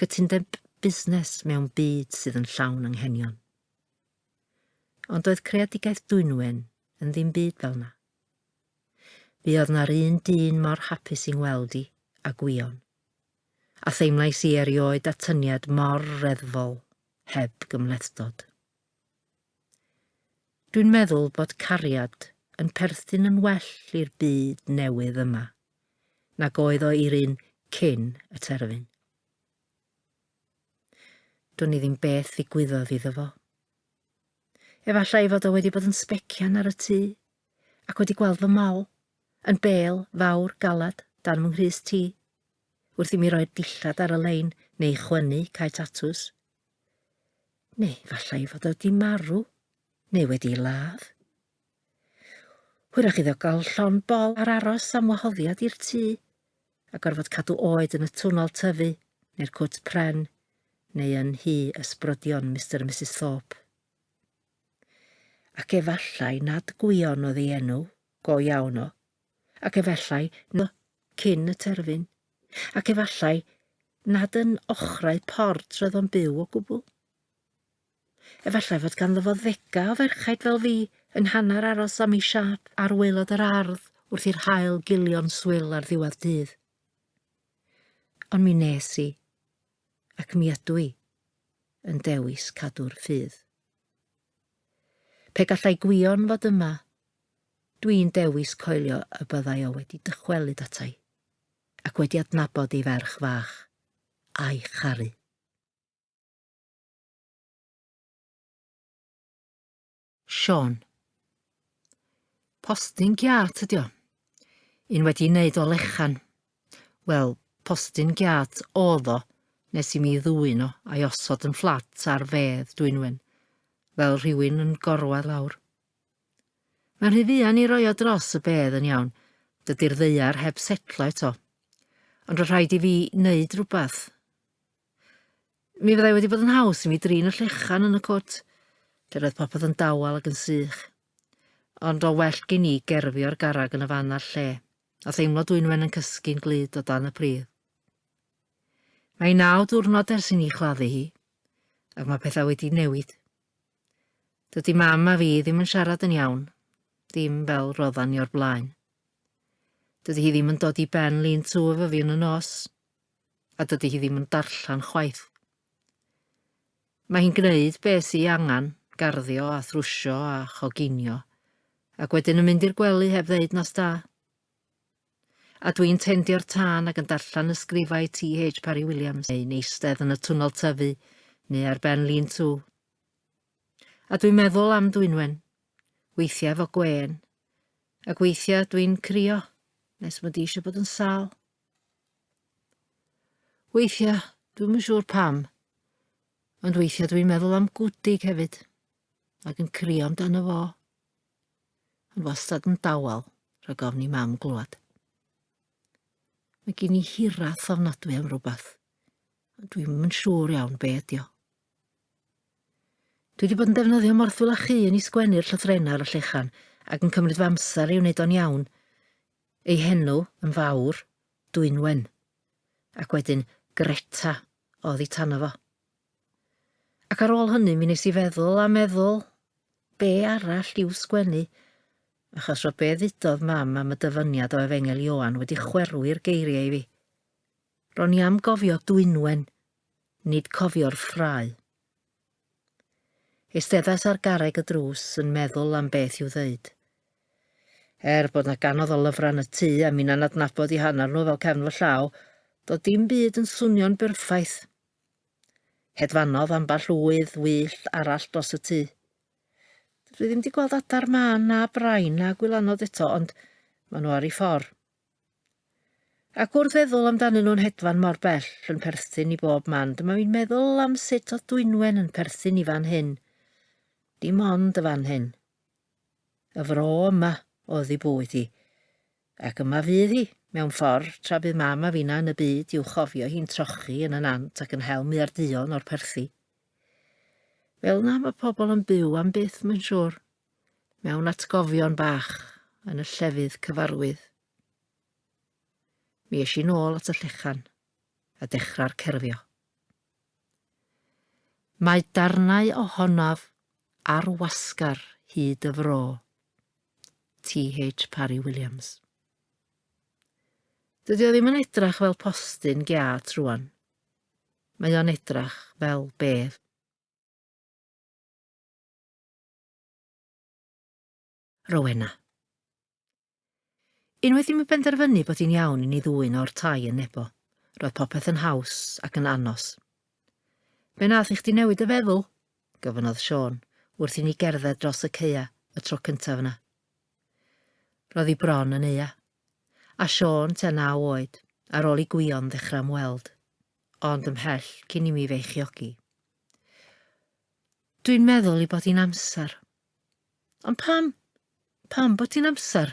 Cytundeb busnes mewn byd sydd yn llawn anghenion. Ond doedd creadigaeth Dwynwen yn ddim byd fel na. Fe oedd na'r un dyn mor hapus i'n weld i, a gwion. A theimlais i erioed atyniad mor reddfol, heb gymhlethdod. Dwi'n meddwl bod cariad yn perthyn yn well i'r byd newydd yma, nag oedd o i'r un cyn y terfyn. Dwn i ddim beth ddigwyddodd iddo fo. Efallai fod o wedi bod yn sbecian ar y tŷ, ac wedi gweld fy mol, yn bel, fawr, galad, dan fy nghrys ti. Wrth i mi roi'r dillad ar y lein, neu chwynnu, cae tatws. Neu efallai fod o wedi marw, neu wedi ladd. Hwyrach iddo gael llon bol ar aros am wahoddiad i'r tŷ, a gorfod cadw oed yn y twnnel tyfu, neu'r cwt pren, neu yn nhy ysbrydion Mister a Misus Thorpe. Ac efallai nad Gwion oedd ei enw, go iawn o, ac efallai no cyn y terfyn, ac efallai nad yn ochrau port roedd o'n byw o gwbl. Efallai fod ganddo fo ddega o ferchaid fel fi yng nghanner aros am ei siâp ar waelod yr ardd wrth i'r haul gilio'n swil ar ddiwedd dydd. Ond mi nes i, ac mi ydw i, yn dewis cadw'r ffydd. Pe gallai Gwion fod yma, dwi'n dewis coelio y byddai o wedi dychwelyd atai, ac wedi adnabod ei ferch fach, a'i charu. Sean. Postyn giat ydi o. Un wedi wneud o lechan. Wel, postyn giat oedd o nes i mi ddwyn o a'i osod yn fflat ar fedd Dwynwen, fel rhywun yn gorwedd lawr. Mae'n rhy fuan i roi o dros y bedd yn iawn, dydy'r ddeiar heb setlo eto. Ond roedd rhaid i fi wneud rhywbeth. Mi fyddai wedi bod yn haws i mi drin y llechan yn y cwt, lle roedd popeth yn dawel ac yn sych. Ond o well gen i gerfio'r garreg yn y fan a'r lle, a theimlo dwynwen yn cysgu'n glyd o dan y pridd. Mae naw diwrnod ers i ni chladdu hi, ac mae pethau wedi newid. Dydy mam a fi ddim yn siarad yn iawn, ddim fel roddan ni o'r blaen. Dydy hi ddim yn dod i ben lun tu efo fi yn y nos, a dydy hi ddim yn darllen chwaith. Mae hi'n gwneud beth sy'i angen, garddio a thrwsio a choginio, ac wedyn yn mynd i'r gwely heb ddeud nos da. A dwi'n tendio'r tân ac yn darllen ysgrifau T.H. Parry Williams, neu'n eistedd yn y twnnel tyfu, neu ar ben lun tŵ. A dwi'n meddwl am Dwynwen, weithiau fo gwen, ac weithiau dwi'n crio, nes mod i eisiau bod yn sal. Weithiau, dwi'n yn siŵr pam, ond weithiau dwi'n meddwl am gwdig hefyd, ac yn crio amdano fo. Ond wastad yn dawel, rhag ofn i mam glwad. Mae gen i hirath ofnadwy am rhywbeth, ond dwi'n yn siŵr iawn be ydi o. Dwi wedi bod yn defnyddio morthwyl a chi yn ei sgwennu'r llythrenau ar y llechan ac yn cymryd fy amser i wneud o'n iawn. Ei henw yn fawr, Dwynwen, ac wedyn Greta o oddi tano fo. Ac ar ôl hynny mi nes i feddwl a meddwl, be arall i'w sgwennu, achos roedd be ddudodd Mam am y dyfyniad o Efengyl Ioan wedi chwerwu'r geiriau i fi. Ro'n i am gofio Dwynwen, nid cofio'r ffrae. Eisteddas ar garreg y drws yn meddwl am beth i'w ddeud. Er bod 'na ganodd o lyfrau yn y tŷ a minna'n adnabod i hanner nhw fel cefn fy llaw, doedd dim byd yn swnio'n berffaith. Hedfanodd ambell ŵydd wyllt arall dros y tŷ. Dwi ddim 'di gweld adar mân na brain na gwylanod eto, ond ma' nhw ar 'u ffor. Ac wrth feddwl amdanyn nhw'n hedfan mor bell yn perthyn i bob man, dyma fi'n meddwl am sut oedd Dwynwen yn perthyn i fan hyn. Dim ond y fan hyn. Y fro yma oedd ei bwyd hi. Ac yma fydd hi, mewn ffordd, tra bydd mam a fina yn y byd i'w chofio hi'n trochi yn y nant ac yn hel muarduon o'r perthi. Fel na mae pobl yn byw am byth, mae'n siŵr. mewn atgofion bach yn y llefydd cyfarwydd. Mi eisiau nôl at y llechan a dechrau'r cerfio. Mae darnau ohonaf ar wasgar hyd y fro. TH Parry Williams. Dydy o ddim yn edrach fel postyn geat rwan. Mae o'n edrach fel bedd. Rowena. Unwaith i mi benderfynu bod hi'n iawn i ni ddwyn o'r tai yn Nebo, roedd popeth yn haws ac yn anos. Fe nath i chdi newid y feddwl? gofynnodd Sean, wrth i ni gerdded dros y ceia y tro cyntaf yna. Roedd hi bron yn eia. A Sean, te naw oed, ar ôl i gwion ddechrau ymweld, ond ymhell cyn i mi feichiogi. Dwi'n meddwl i bod i'n amser. Ond pam? Pam bod i'n amser?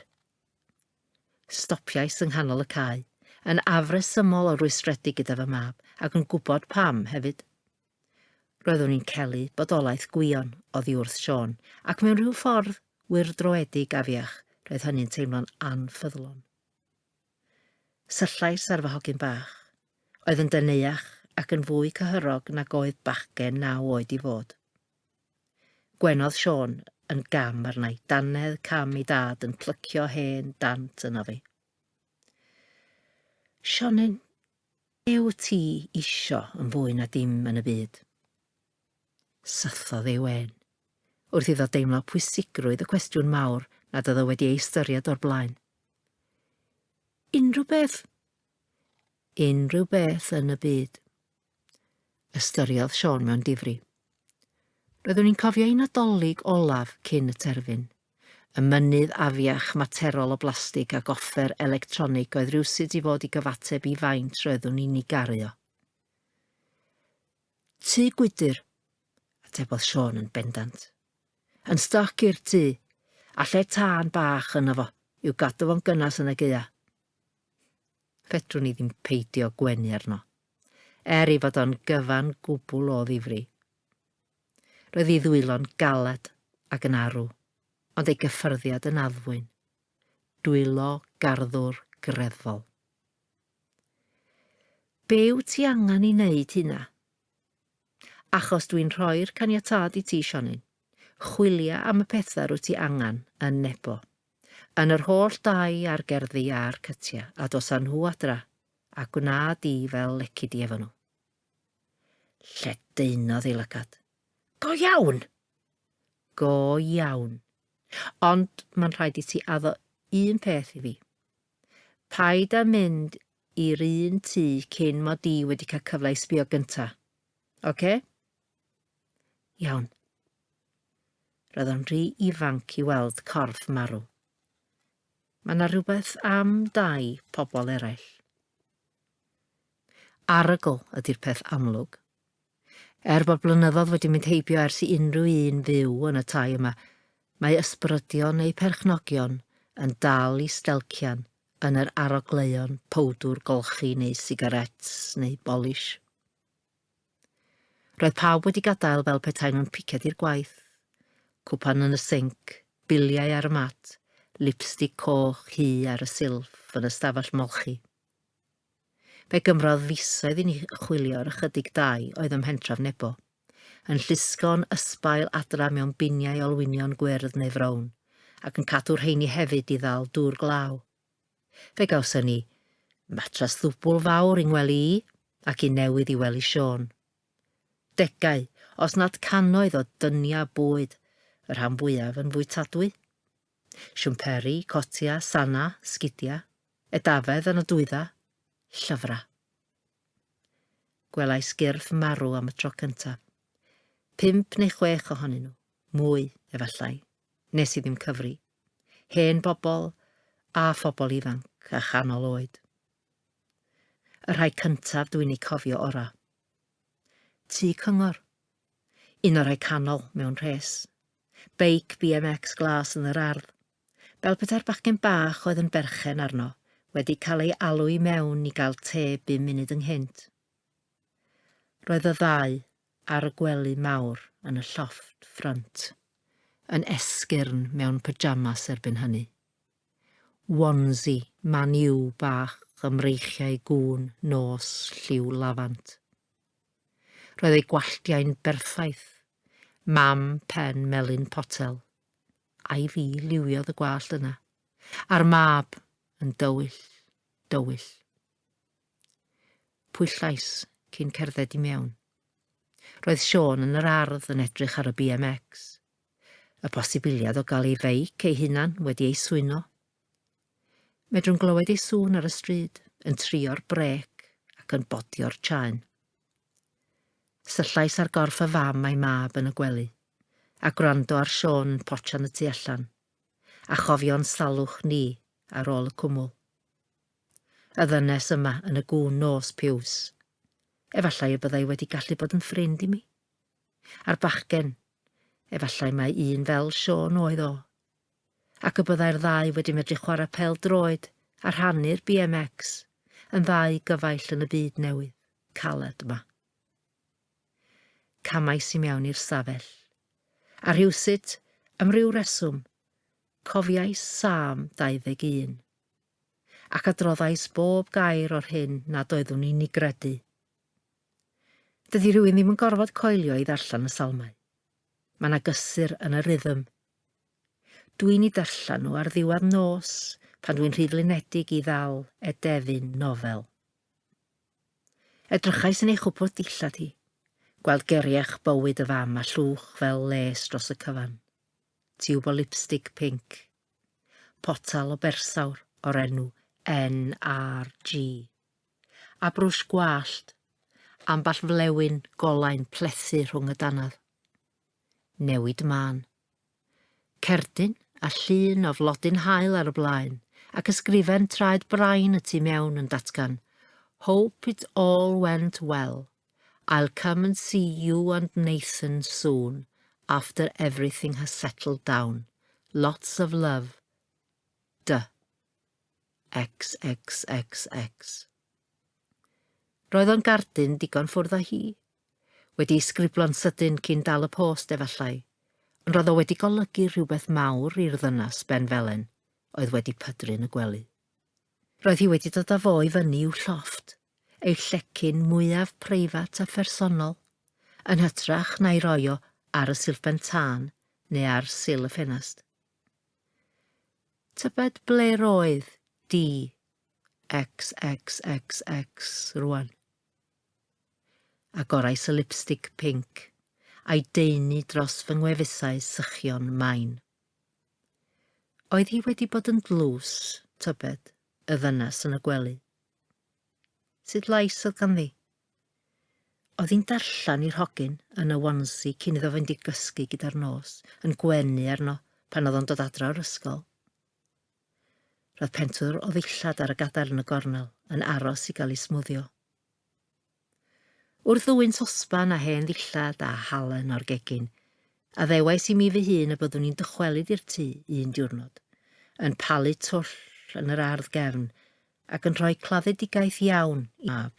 Stopiais yng nghanol y cae, yn afresymol o rwystredig gyda fy mab, ac yn gwybod pam hefyd. Roeddwn i'n celu bodolaeth gwion oddi wrth Siôn, ac mewn rhyw ffordd, wir droedig afiach, roedd hynny'n teimlo'n anffyddlon. Syllais ar fy hogyn bach. Oedd yn deneuach ac yn fwy cyhyrog nag oedd bachgen naw oed i fod. Gwenodd Siôn yn gam arna'i dannedd cam i dad yn plycio hen dant yno fi. Sionyn, be wyt ti isio yn fwy na dim yn y byd? Syllodd ei wen, wrth iddo deimlo pwysigrwydd y cwestiwn mawr nad oedd o wedi ei ystyried o'r blaen. Unrhyw beth? Unrhyw beth yn y byd. Ystyriodd Sean mewn difri. Roeddwn i'n cofio un adolyg olaf cyn y terfyn. Y mynydd afiach materol o blastig ac offer electronig oedd rhywsut i fod i gyfateb i faint roeddwn i'n ei garu o. Tŷ gwydr, atebodd Siôn yn bendant. Yn stoc i'r tŷ, a lle tân bach yno fo, i'w gadw fo'n gynnes yn y gaea. Fedrwn ni ddim peidio gwenu arno, er ei fod o'n gyfan gwbl o ddifri. Roedd ei ddwylo'n galed ac yn arw, ond ei gyffyrddiad yn addfwyn. Dwylo garddwr greddfol. Be wyt ti angen i wneud hynna? Achos dwi'n rhoi'r caniatâd i ti, Sionyn. Chwilia am y pethau rwyt ti angen yn Nebo. Yn yr holl dai a'r gerddi a'r cytia, a dos â nhw adra, a gwna di fel lecu di efo nhw. Lledaenodd ei lygad. Go iawn! Go iawn. Ond mae'n rhaid i ti addo un peth i fi. Paid â mynd i'r un tŷ cyn mod i wedi cael cyfle i sbio gynta. Ocê? Iawn. Roedd o'n rhy ifanc i weld corff marw. Mae yna rhywbeth am dai pobl eraill. Arogl ydy'r peth amlwg. Er bod blynyddoedd wedi mynd heibio ers i unrhyw un fyw yn y tai yma, mae ysbrydion eu perchnogion yn dal i stelcian yn yr arogleuon powdwr golchi neu sigaréts neu bolish. Roedd pawb wedi gadael fel petai nhw'n piced i'r gwaith. Cwpan yn y sinc, biliau ar y mat, lipstig coch hu ar y silff yn y stafell molchi. Fe gymrodd fisoedd i ni chwilio'r ychydig dai oedd ym mhentref Nebo, yn llusgo'n ysbail adra mewn biniau olwynion gwyrdd neu frown, ac yn cadw rheini hefyd i ddal dŵr glaw. Fe gawson ni matras ddwbl fawr i ngwely i, ac un newydd i wely Siôn. Degau, os nad cannoedd o dyniau bwyd, y rhan fwyaf yn fwytadwy. Siwmperi, cotia, sana, sgidia, edafedd yn y dwydda, llyfra. Gwelais gyrff marw am y tro cyntaf. Pump neu chwech ohonyn nhw, mwy, efallai, nes i ddim cyfri. Hen bobl, a phobl ifanc, a chanol oed. Y rhai cyntaf dwi'n ei cofio ora. Tŷ cyngor, Un o'r rhai canol, mewn rhes. Beic BMX glas yn yr ardd. Fel petai'r bachgen bach oedd yn berchen arno wedi cael ei alw i mewn i gael te bum munud ynghynt. Roedd y ddau ar y gwely mawr yn y llofft ffrynt, yn esgyrn mewn pyjamas erbyn hynny. Wonsi, maniw bach ymreichiau gŵn nos lliw lafant. Roedd ei gwalltiau'n berffaith. Mam pen melyn potel. Ai fi liwiodd y gwallt yna? A'r mab yn dywyll, dywyll. Pwyllais cyn cerdded i mewn. Roedd Sean yn yr ardd yn edrych ar y BMX. Y posibiliad o gael ei feic ei hunan wedi ei swyno. Medrwn glywed ei sŵn ar y stryd, yn trio'r brec ac yn bodio'r chaen. Syllais ar gorff y fam a'i mab yn y gwely, a gwrando ar Siôn yn potsian y tu allan, a chofio'n salwch ni ar ôl y cwmwl. Y ddynes yma yn y gŵn nos piws. Efallai y byddai wedi gallu bod yn ffrind i mi. A'r bachgen, efallai mae un fel Siôn oedd o. ac y byddai'r ddau wedi medru chwarae pêl-droed a rhannu'r BMX yn ddau gyfaill yn y byd newydd, caled 'ma. Camais i mewn i'r stafell. A rhywsut, am ryw reswm, cofiais Sâm 21. Ac adroddais bob gair o'r hyn nad oeddwn i'n ei gredu. Dydy rhywun ddim yn gorfod coelio i ddarllen y salmau. Mae 'na gysur yn y rhythm Dwi'n i darllen nhw ar ddiwedd nos pan dwi'n rhy flinedig i ddal edefyn nofel. Edrychais yn ei chwpwrdd dillad hi, gweld geriach bywyd y fam a llwch fel les dros y cyfan. Tiwb o lipstig pinc. Potal o bersawr o'r enw NRG. A brwsh gwallt. Amball flewyn golain plethu rhwng y dannedd. newid mân. Cerdyn, a llun o flodyn haul ar y blaen, ac ysgrifen traed brain y tu mewn yn datgan, Hope it all went well. I'll come and see you and Nathan soon, after everything has settled down. Lots of love. Dy. XXXX. Roedd o'n gardyn digon ffwrdd â hi. Wedi'i sgriblo'n sydyn cyn dal y post, efallai, ond roedd o wedi golygu rhywbeth mawr i'r ddynas ben felen oedd wedi pydru yn y gwely. Roedd hi wedi dod â fo i fyny i'w llofft, ei llecyn mwyaf preifat a phersonol, yn hytrach na'i roi o ar y silfben tân neu ar sil y ffenast. Tybed ble roedd di? XXXX rwan. Agorais y lipstig pinc a'i daenu dros fy ngwefusau sychion main. Oedd hi wedi bod yn dlws, tybed, y ddynas yn y gwely? Sut lais oedd ganddi? Oedd hi'n darllen i'r hogyn yn y wansi cyn iddo fynd i gysgu gyda'r nos, yn gwenu arno pan oedd o'n dod adra o'r ysgol. Roedd pentwr o ddillad ar y gadair yn y gornel, yn aros i gael ei smwddio. Wrth ddwyn sosban a hen ddillad a halen o'r gegin, a ddewais i mi fy hun y byddwn i'n dychwelyd i'r tŷ un diwrnod, yn palu twll yn yr ardd gefn ac yn rhoi claddedigaeth iawn i mab.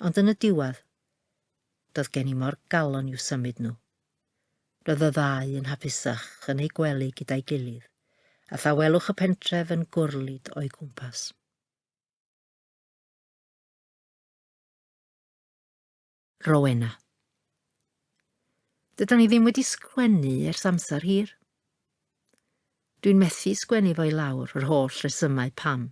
Ond yn y diwedd, doedd gen i mor galon i'w symud nhw. Roedd y ddau yn hapusach yn eu gwely gyda'i gilydd, a thawelwch y pentref yn gwrlid o'i gwmpas. Rowena. Dydan ni ddim wedi sgwennu ers amser hir. Dwi'n methu sgwennu fo i lawr yr holl resymau pam.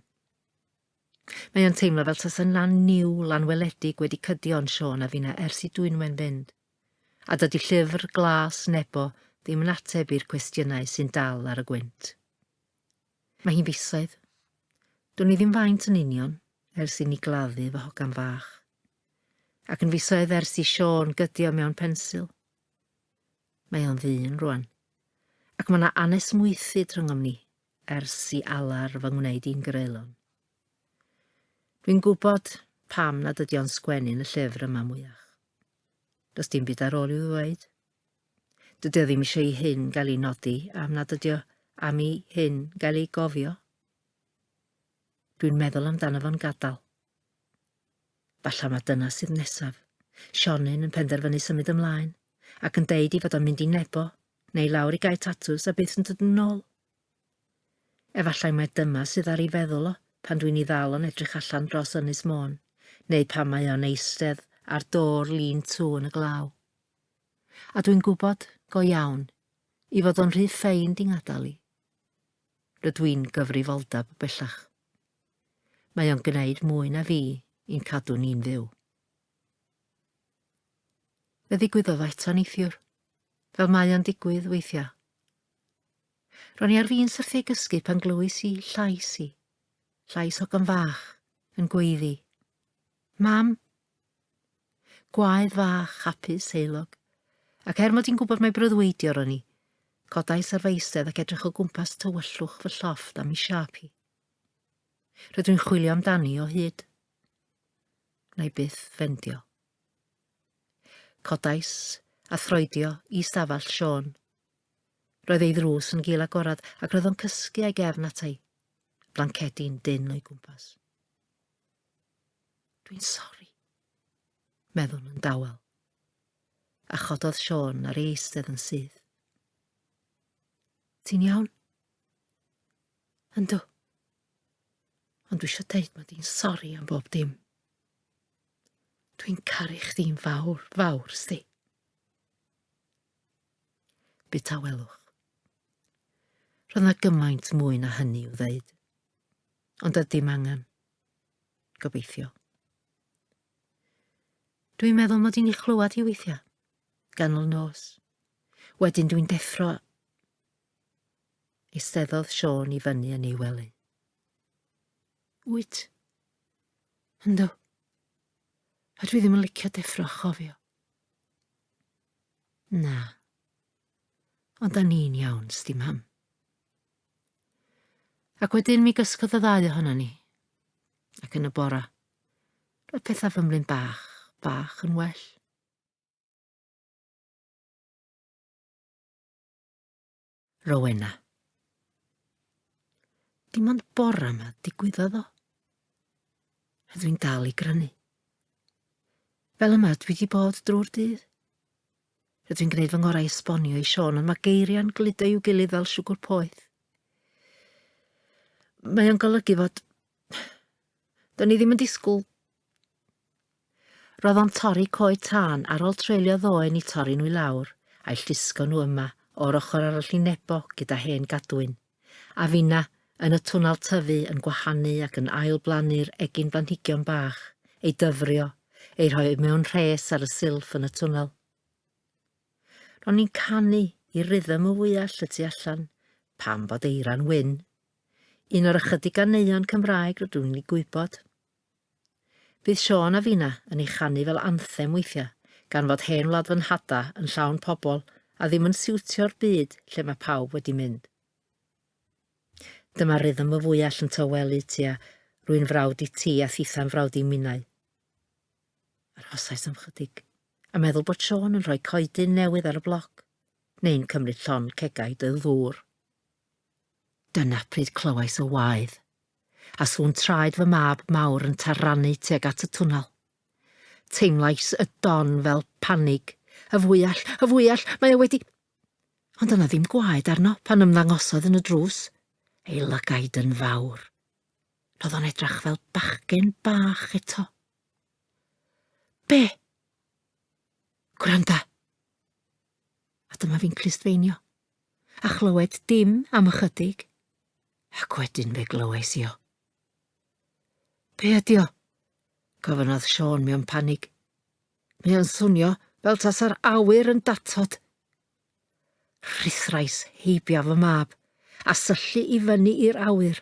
Mae o'n teimlo fel tasa'n lan niw, lan weledig wedi cydio yn Siôn a finna ers i dwynwen fynd. A dydy Llyfr Glas Nebo ddim yn ateb i'r cwestiynau sy'n dal ar y gwynt. Mae hi'n fisoedd. Dwn i ddim faint yn union, ers i ni gladdu fy hogan fach. Ac yn fisoedd ers i Siôn gydio mewn pensil. Mae o'n ddyn rwan. Ac mae yna anesmwythu dryngom ni, ers i alar fy ngwneud i'n greulon. Dwi'n gwybod pam nad ydy o'n sgwennu'n y llyfr yma mwyach. Does dim byd ar ôl i'w ddweud. Dydy o ddim eisiau i hyn gael ei nodi am nad ydy o am i hyn gael ei gofio. Dwi'n meddwl amdano fo'n gadael. Falla mae dyna sydd nesaf. Sionyn yn penderfynu symud ymlaen, ac yn deud i fod o'n mynd i nebo, neu lawr i gael tatws a byth yn dod yn ôl. Efallai mai dyma sydd ar ei feddwl o pan dwi'n 'i ddal o'n edrych allan dros Ynys Môn, neu pan mae o'n eistedd ar do'r Lean To yn y glaw. A dwi'n gwybod, go iawn, 'i fod o'n rhy ffeind i ngadael i. Rydw i'n gyfrifoldeb bellach. Mae o'n gwneud mwy na fi i'n cadw ni'n fyw. Fe ddigwyddodd eto neithiwr, fel mae o'n digwydd weithiau. Ro'n i ar fin syrthiau gysgu pan glywais i llais i. Llais hogan fach, yn gweiddi. Mam! Gwaedd fach, hapus, heilog. Ac er mod i'n gwybod mae breuddwydio ro'n i, codais ar fy eistedd ac edrych o gwmpas tywyllwch fy llofft am i siap hi. Rydw i'n chwilio amdani o hyd. Na i byth fendio. Codais a throedio i stafell Sean. Roedd ei ddrws yn gul agored ac roedd o'n cysgu a'i gefn ata'i. Blancedi'n dynn o'i gwmpas. Dwi'n sori, meddwn yn dawel. A chododd Sean ar ei eistedd yn syth. Ti'n iawn? Yndw. Ond dwi eisiau deud mae di'n sori am bob dim. Dwi'n caru chdi'n fawr, fawr, sti. Bu tawelwch. Roedd na gymaint mwy na hynny i'w ddeud. Ond oedd dim angen. Gobeithio. Dwi'n meddwl mod i'n ei chlywed hi weithiau. Ganol nos. Wedyn dwi'n deffro Eisteddodd Siôn i fyny yn ei wely. Wyt? Ynddo. A dwi ddim yn licio deffro chofio. Na. Ond da ni'n iawn, sdi mam. Ac wedyn mi gysgodd y ddau ohono ni. Ac yn y bora. Roedd pethau fymlyn bach, bach yn well. Rowena. Dim ond bora yma digwyddodd o. A dwi'n dal i grynu. Fel yma dwi wedi bod drwy'r dydd. Rydw i'n gwneud fy ngorau i esbonio i Sean, ond mae geiriau'n gludo i'w gilydd fel siwgr poeth. Mae o'n golygu fod... Do'n i ddim yn disgwyl Roedd o'n torri coed tân ar ol treulio ddoen i torri nhw i lawr, a'i llusgo nhw yma, o'r ochr arall i Nebo gyda hen gadwyn. A finna, yn y twnnel tyfu, yn gwahanu ac yn ail blannu'r egin blanhigion bach, ei dyfrio, eu rhoi mewn rhes ar y silff yn y twnnel. Ro'n ni'n canu i rythm y fwyall y tu allan, pam bod eira'n wyn. Un o'r ychydig ganeuon Cymraeg rydw i'n ei gwybod. Bydd Siôn a Fina yn ei chanu fel anthem weithiau, gan fod hen wlad fy nhada yn llawn pobl a ddim yn siwtio'r byd lle mae pawb wedi mynd. Dyma rythm fy fwyall yn tawelu tua Rwy'n frawd i ti a thitha'n frawd i minnau. Arhosais am chydig, a meddwl bod Siôn yn rhoi coedyn newydd ar y bloc, neu'n cymryd llon cegau dy ddŵr. Dyna pryd clywais y waedd. a sŵn traed fy mab mawr yn tarrannu tuag at y twnnel. Teimlais y don fel panig. Y fwyell, y fwyell, mae o wedi... Ond yna ddim gwaed arno pan ymddangosodd yn y drws, ei lygaid yn fawr. Roedd o'n edrach fel bachgen bach eto. Be? Gwranda! a dyma fi'n clustfeinio. A chlywed dim am ychydig, ac wedyn fe glywais i o. Be ydi o? gofynodd Sean mewn panig. Mae o'n swnio fel tasa'r awyr yn datod. Rhithrais heibio fy mab a syllu i fyny i'r awyr.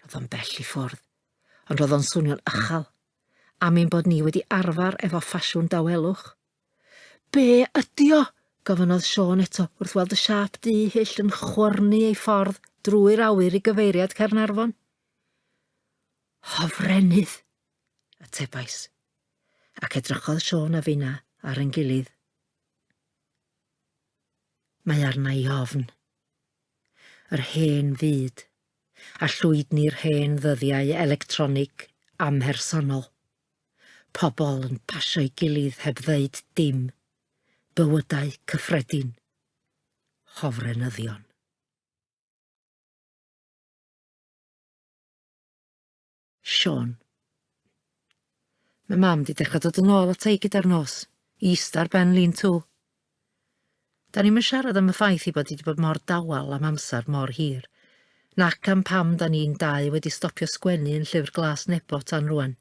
Roedd o'n bell i ffwrdd, ond roedd o'n swnio'n ychal, am ein bod ni wedi arfer efo ffasiwn dawelwch. Be ydi o? gofynnodd Siôn eto wrth weld y siâp du hyll yn chwyrnu ei ffordd drwy'r awyr i gyfeiriad Caernarfon. Hofrennydd, atebais, ac edrychodd Siôn a finna ar ein gilydd. Mae arna i ofn. Yr hen fyd, a llwydni'r hen ddyddiau electronig amhersonol. Pobl yn pasio'i gilydd heb ddeud dim. Bywydau cyffredin. Hofrenyddion. Siôn. Mae mam di dechrau dod yn ôl at ei gyda'r nos, i ista ar ben lean to. Da ni'm yn siarad am y ffaith ei bod hi wedi bod mor dawel am amser mor hir, nac am pam da ni'n dau wedi stopio sgwennu yn Llyfr Glas Nebo tan rwan.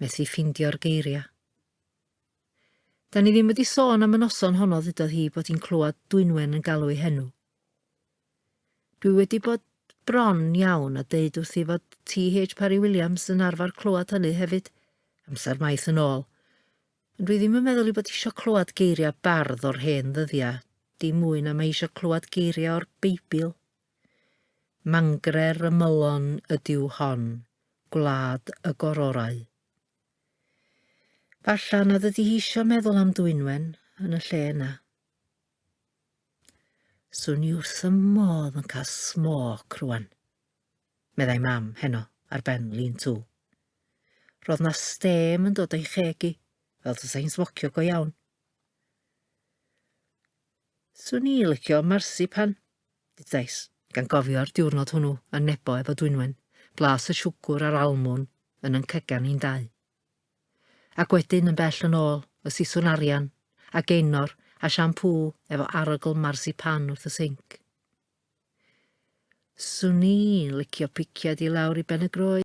Methu ffeindio'r geiriau. Da ni ddim wedi sôn am y noson honno ddudodd hi bod hi'n clywed Dwynwen yn galw ei henw. Dwi wedi bod bron iawn a deud wrthi fod T.H. Parry Williams yn arfer clywed hynny hefyd, amser maith yn ôl. Dwi ddim yn meddwl ei bod isio clywed geiriau bardd o'r hen ddyddiau, dim mwy na mae isio clywed geiriau o'r Beibl. Mangre'r ymylon ydyw hon, gwlad y gororau. Falla nad ydy hi isio meddwl am Dwynwen yn y lle yna. Swn i wrth y modd yn cael smoc rwan. meddai Mam heno ar ben Lean To. Roedd 'na stêm yn dod o'i cheg i, fel tasa hi'n smocio go iawn. Swn i licio marsipan, dudais, gan gofio'r diwrnod hwnnw yn nebo efo Dwynwen, blas y siwgwr a'r almwn yn yn cygan ni'n dau. Ac wedyn yn bell yn ôl, y siswn arian, a geinor, a siampŵ efo arogl marsipan wrth y sinc. Swn i'n licio piciad i lawr i Ben y Groes.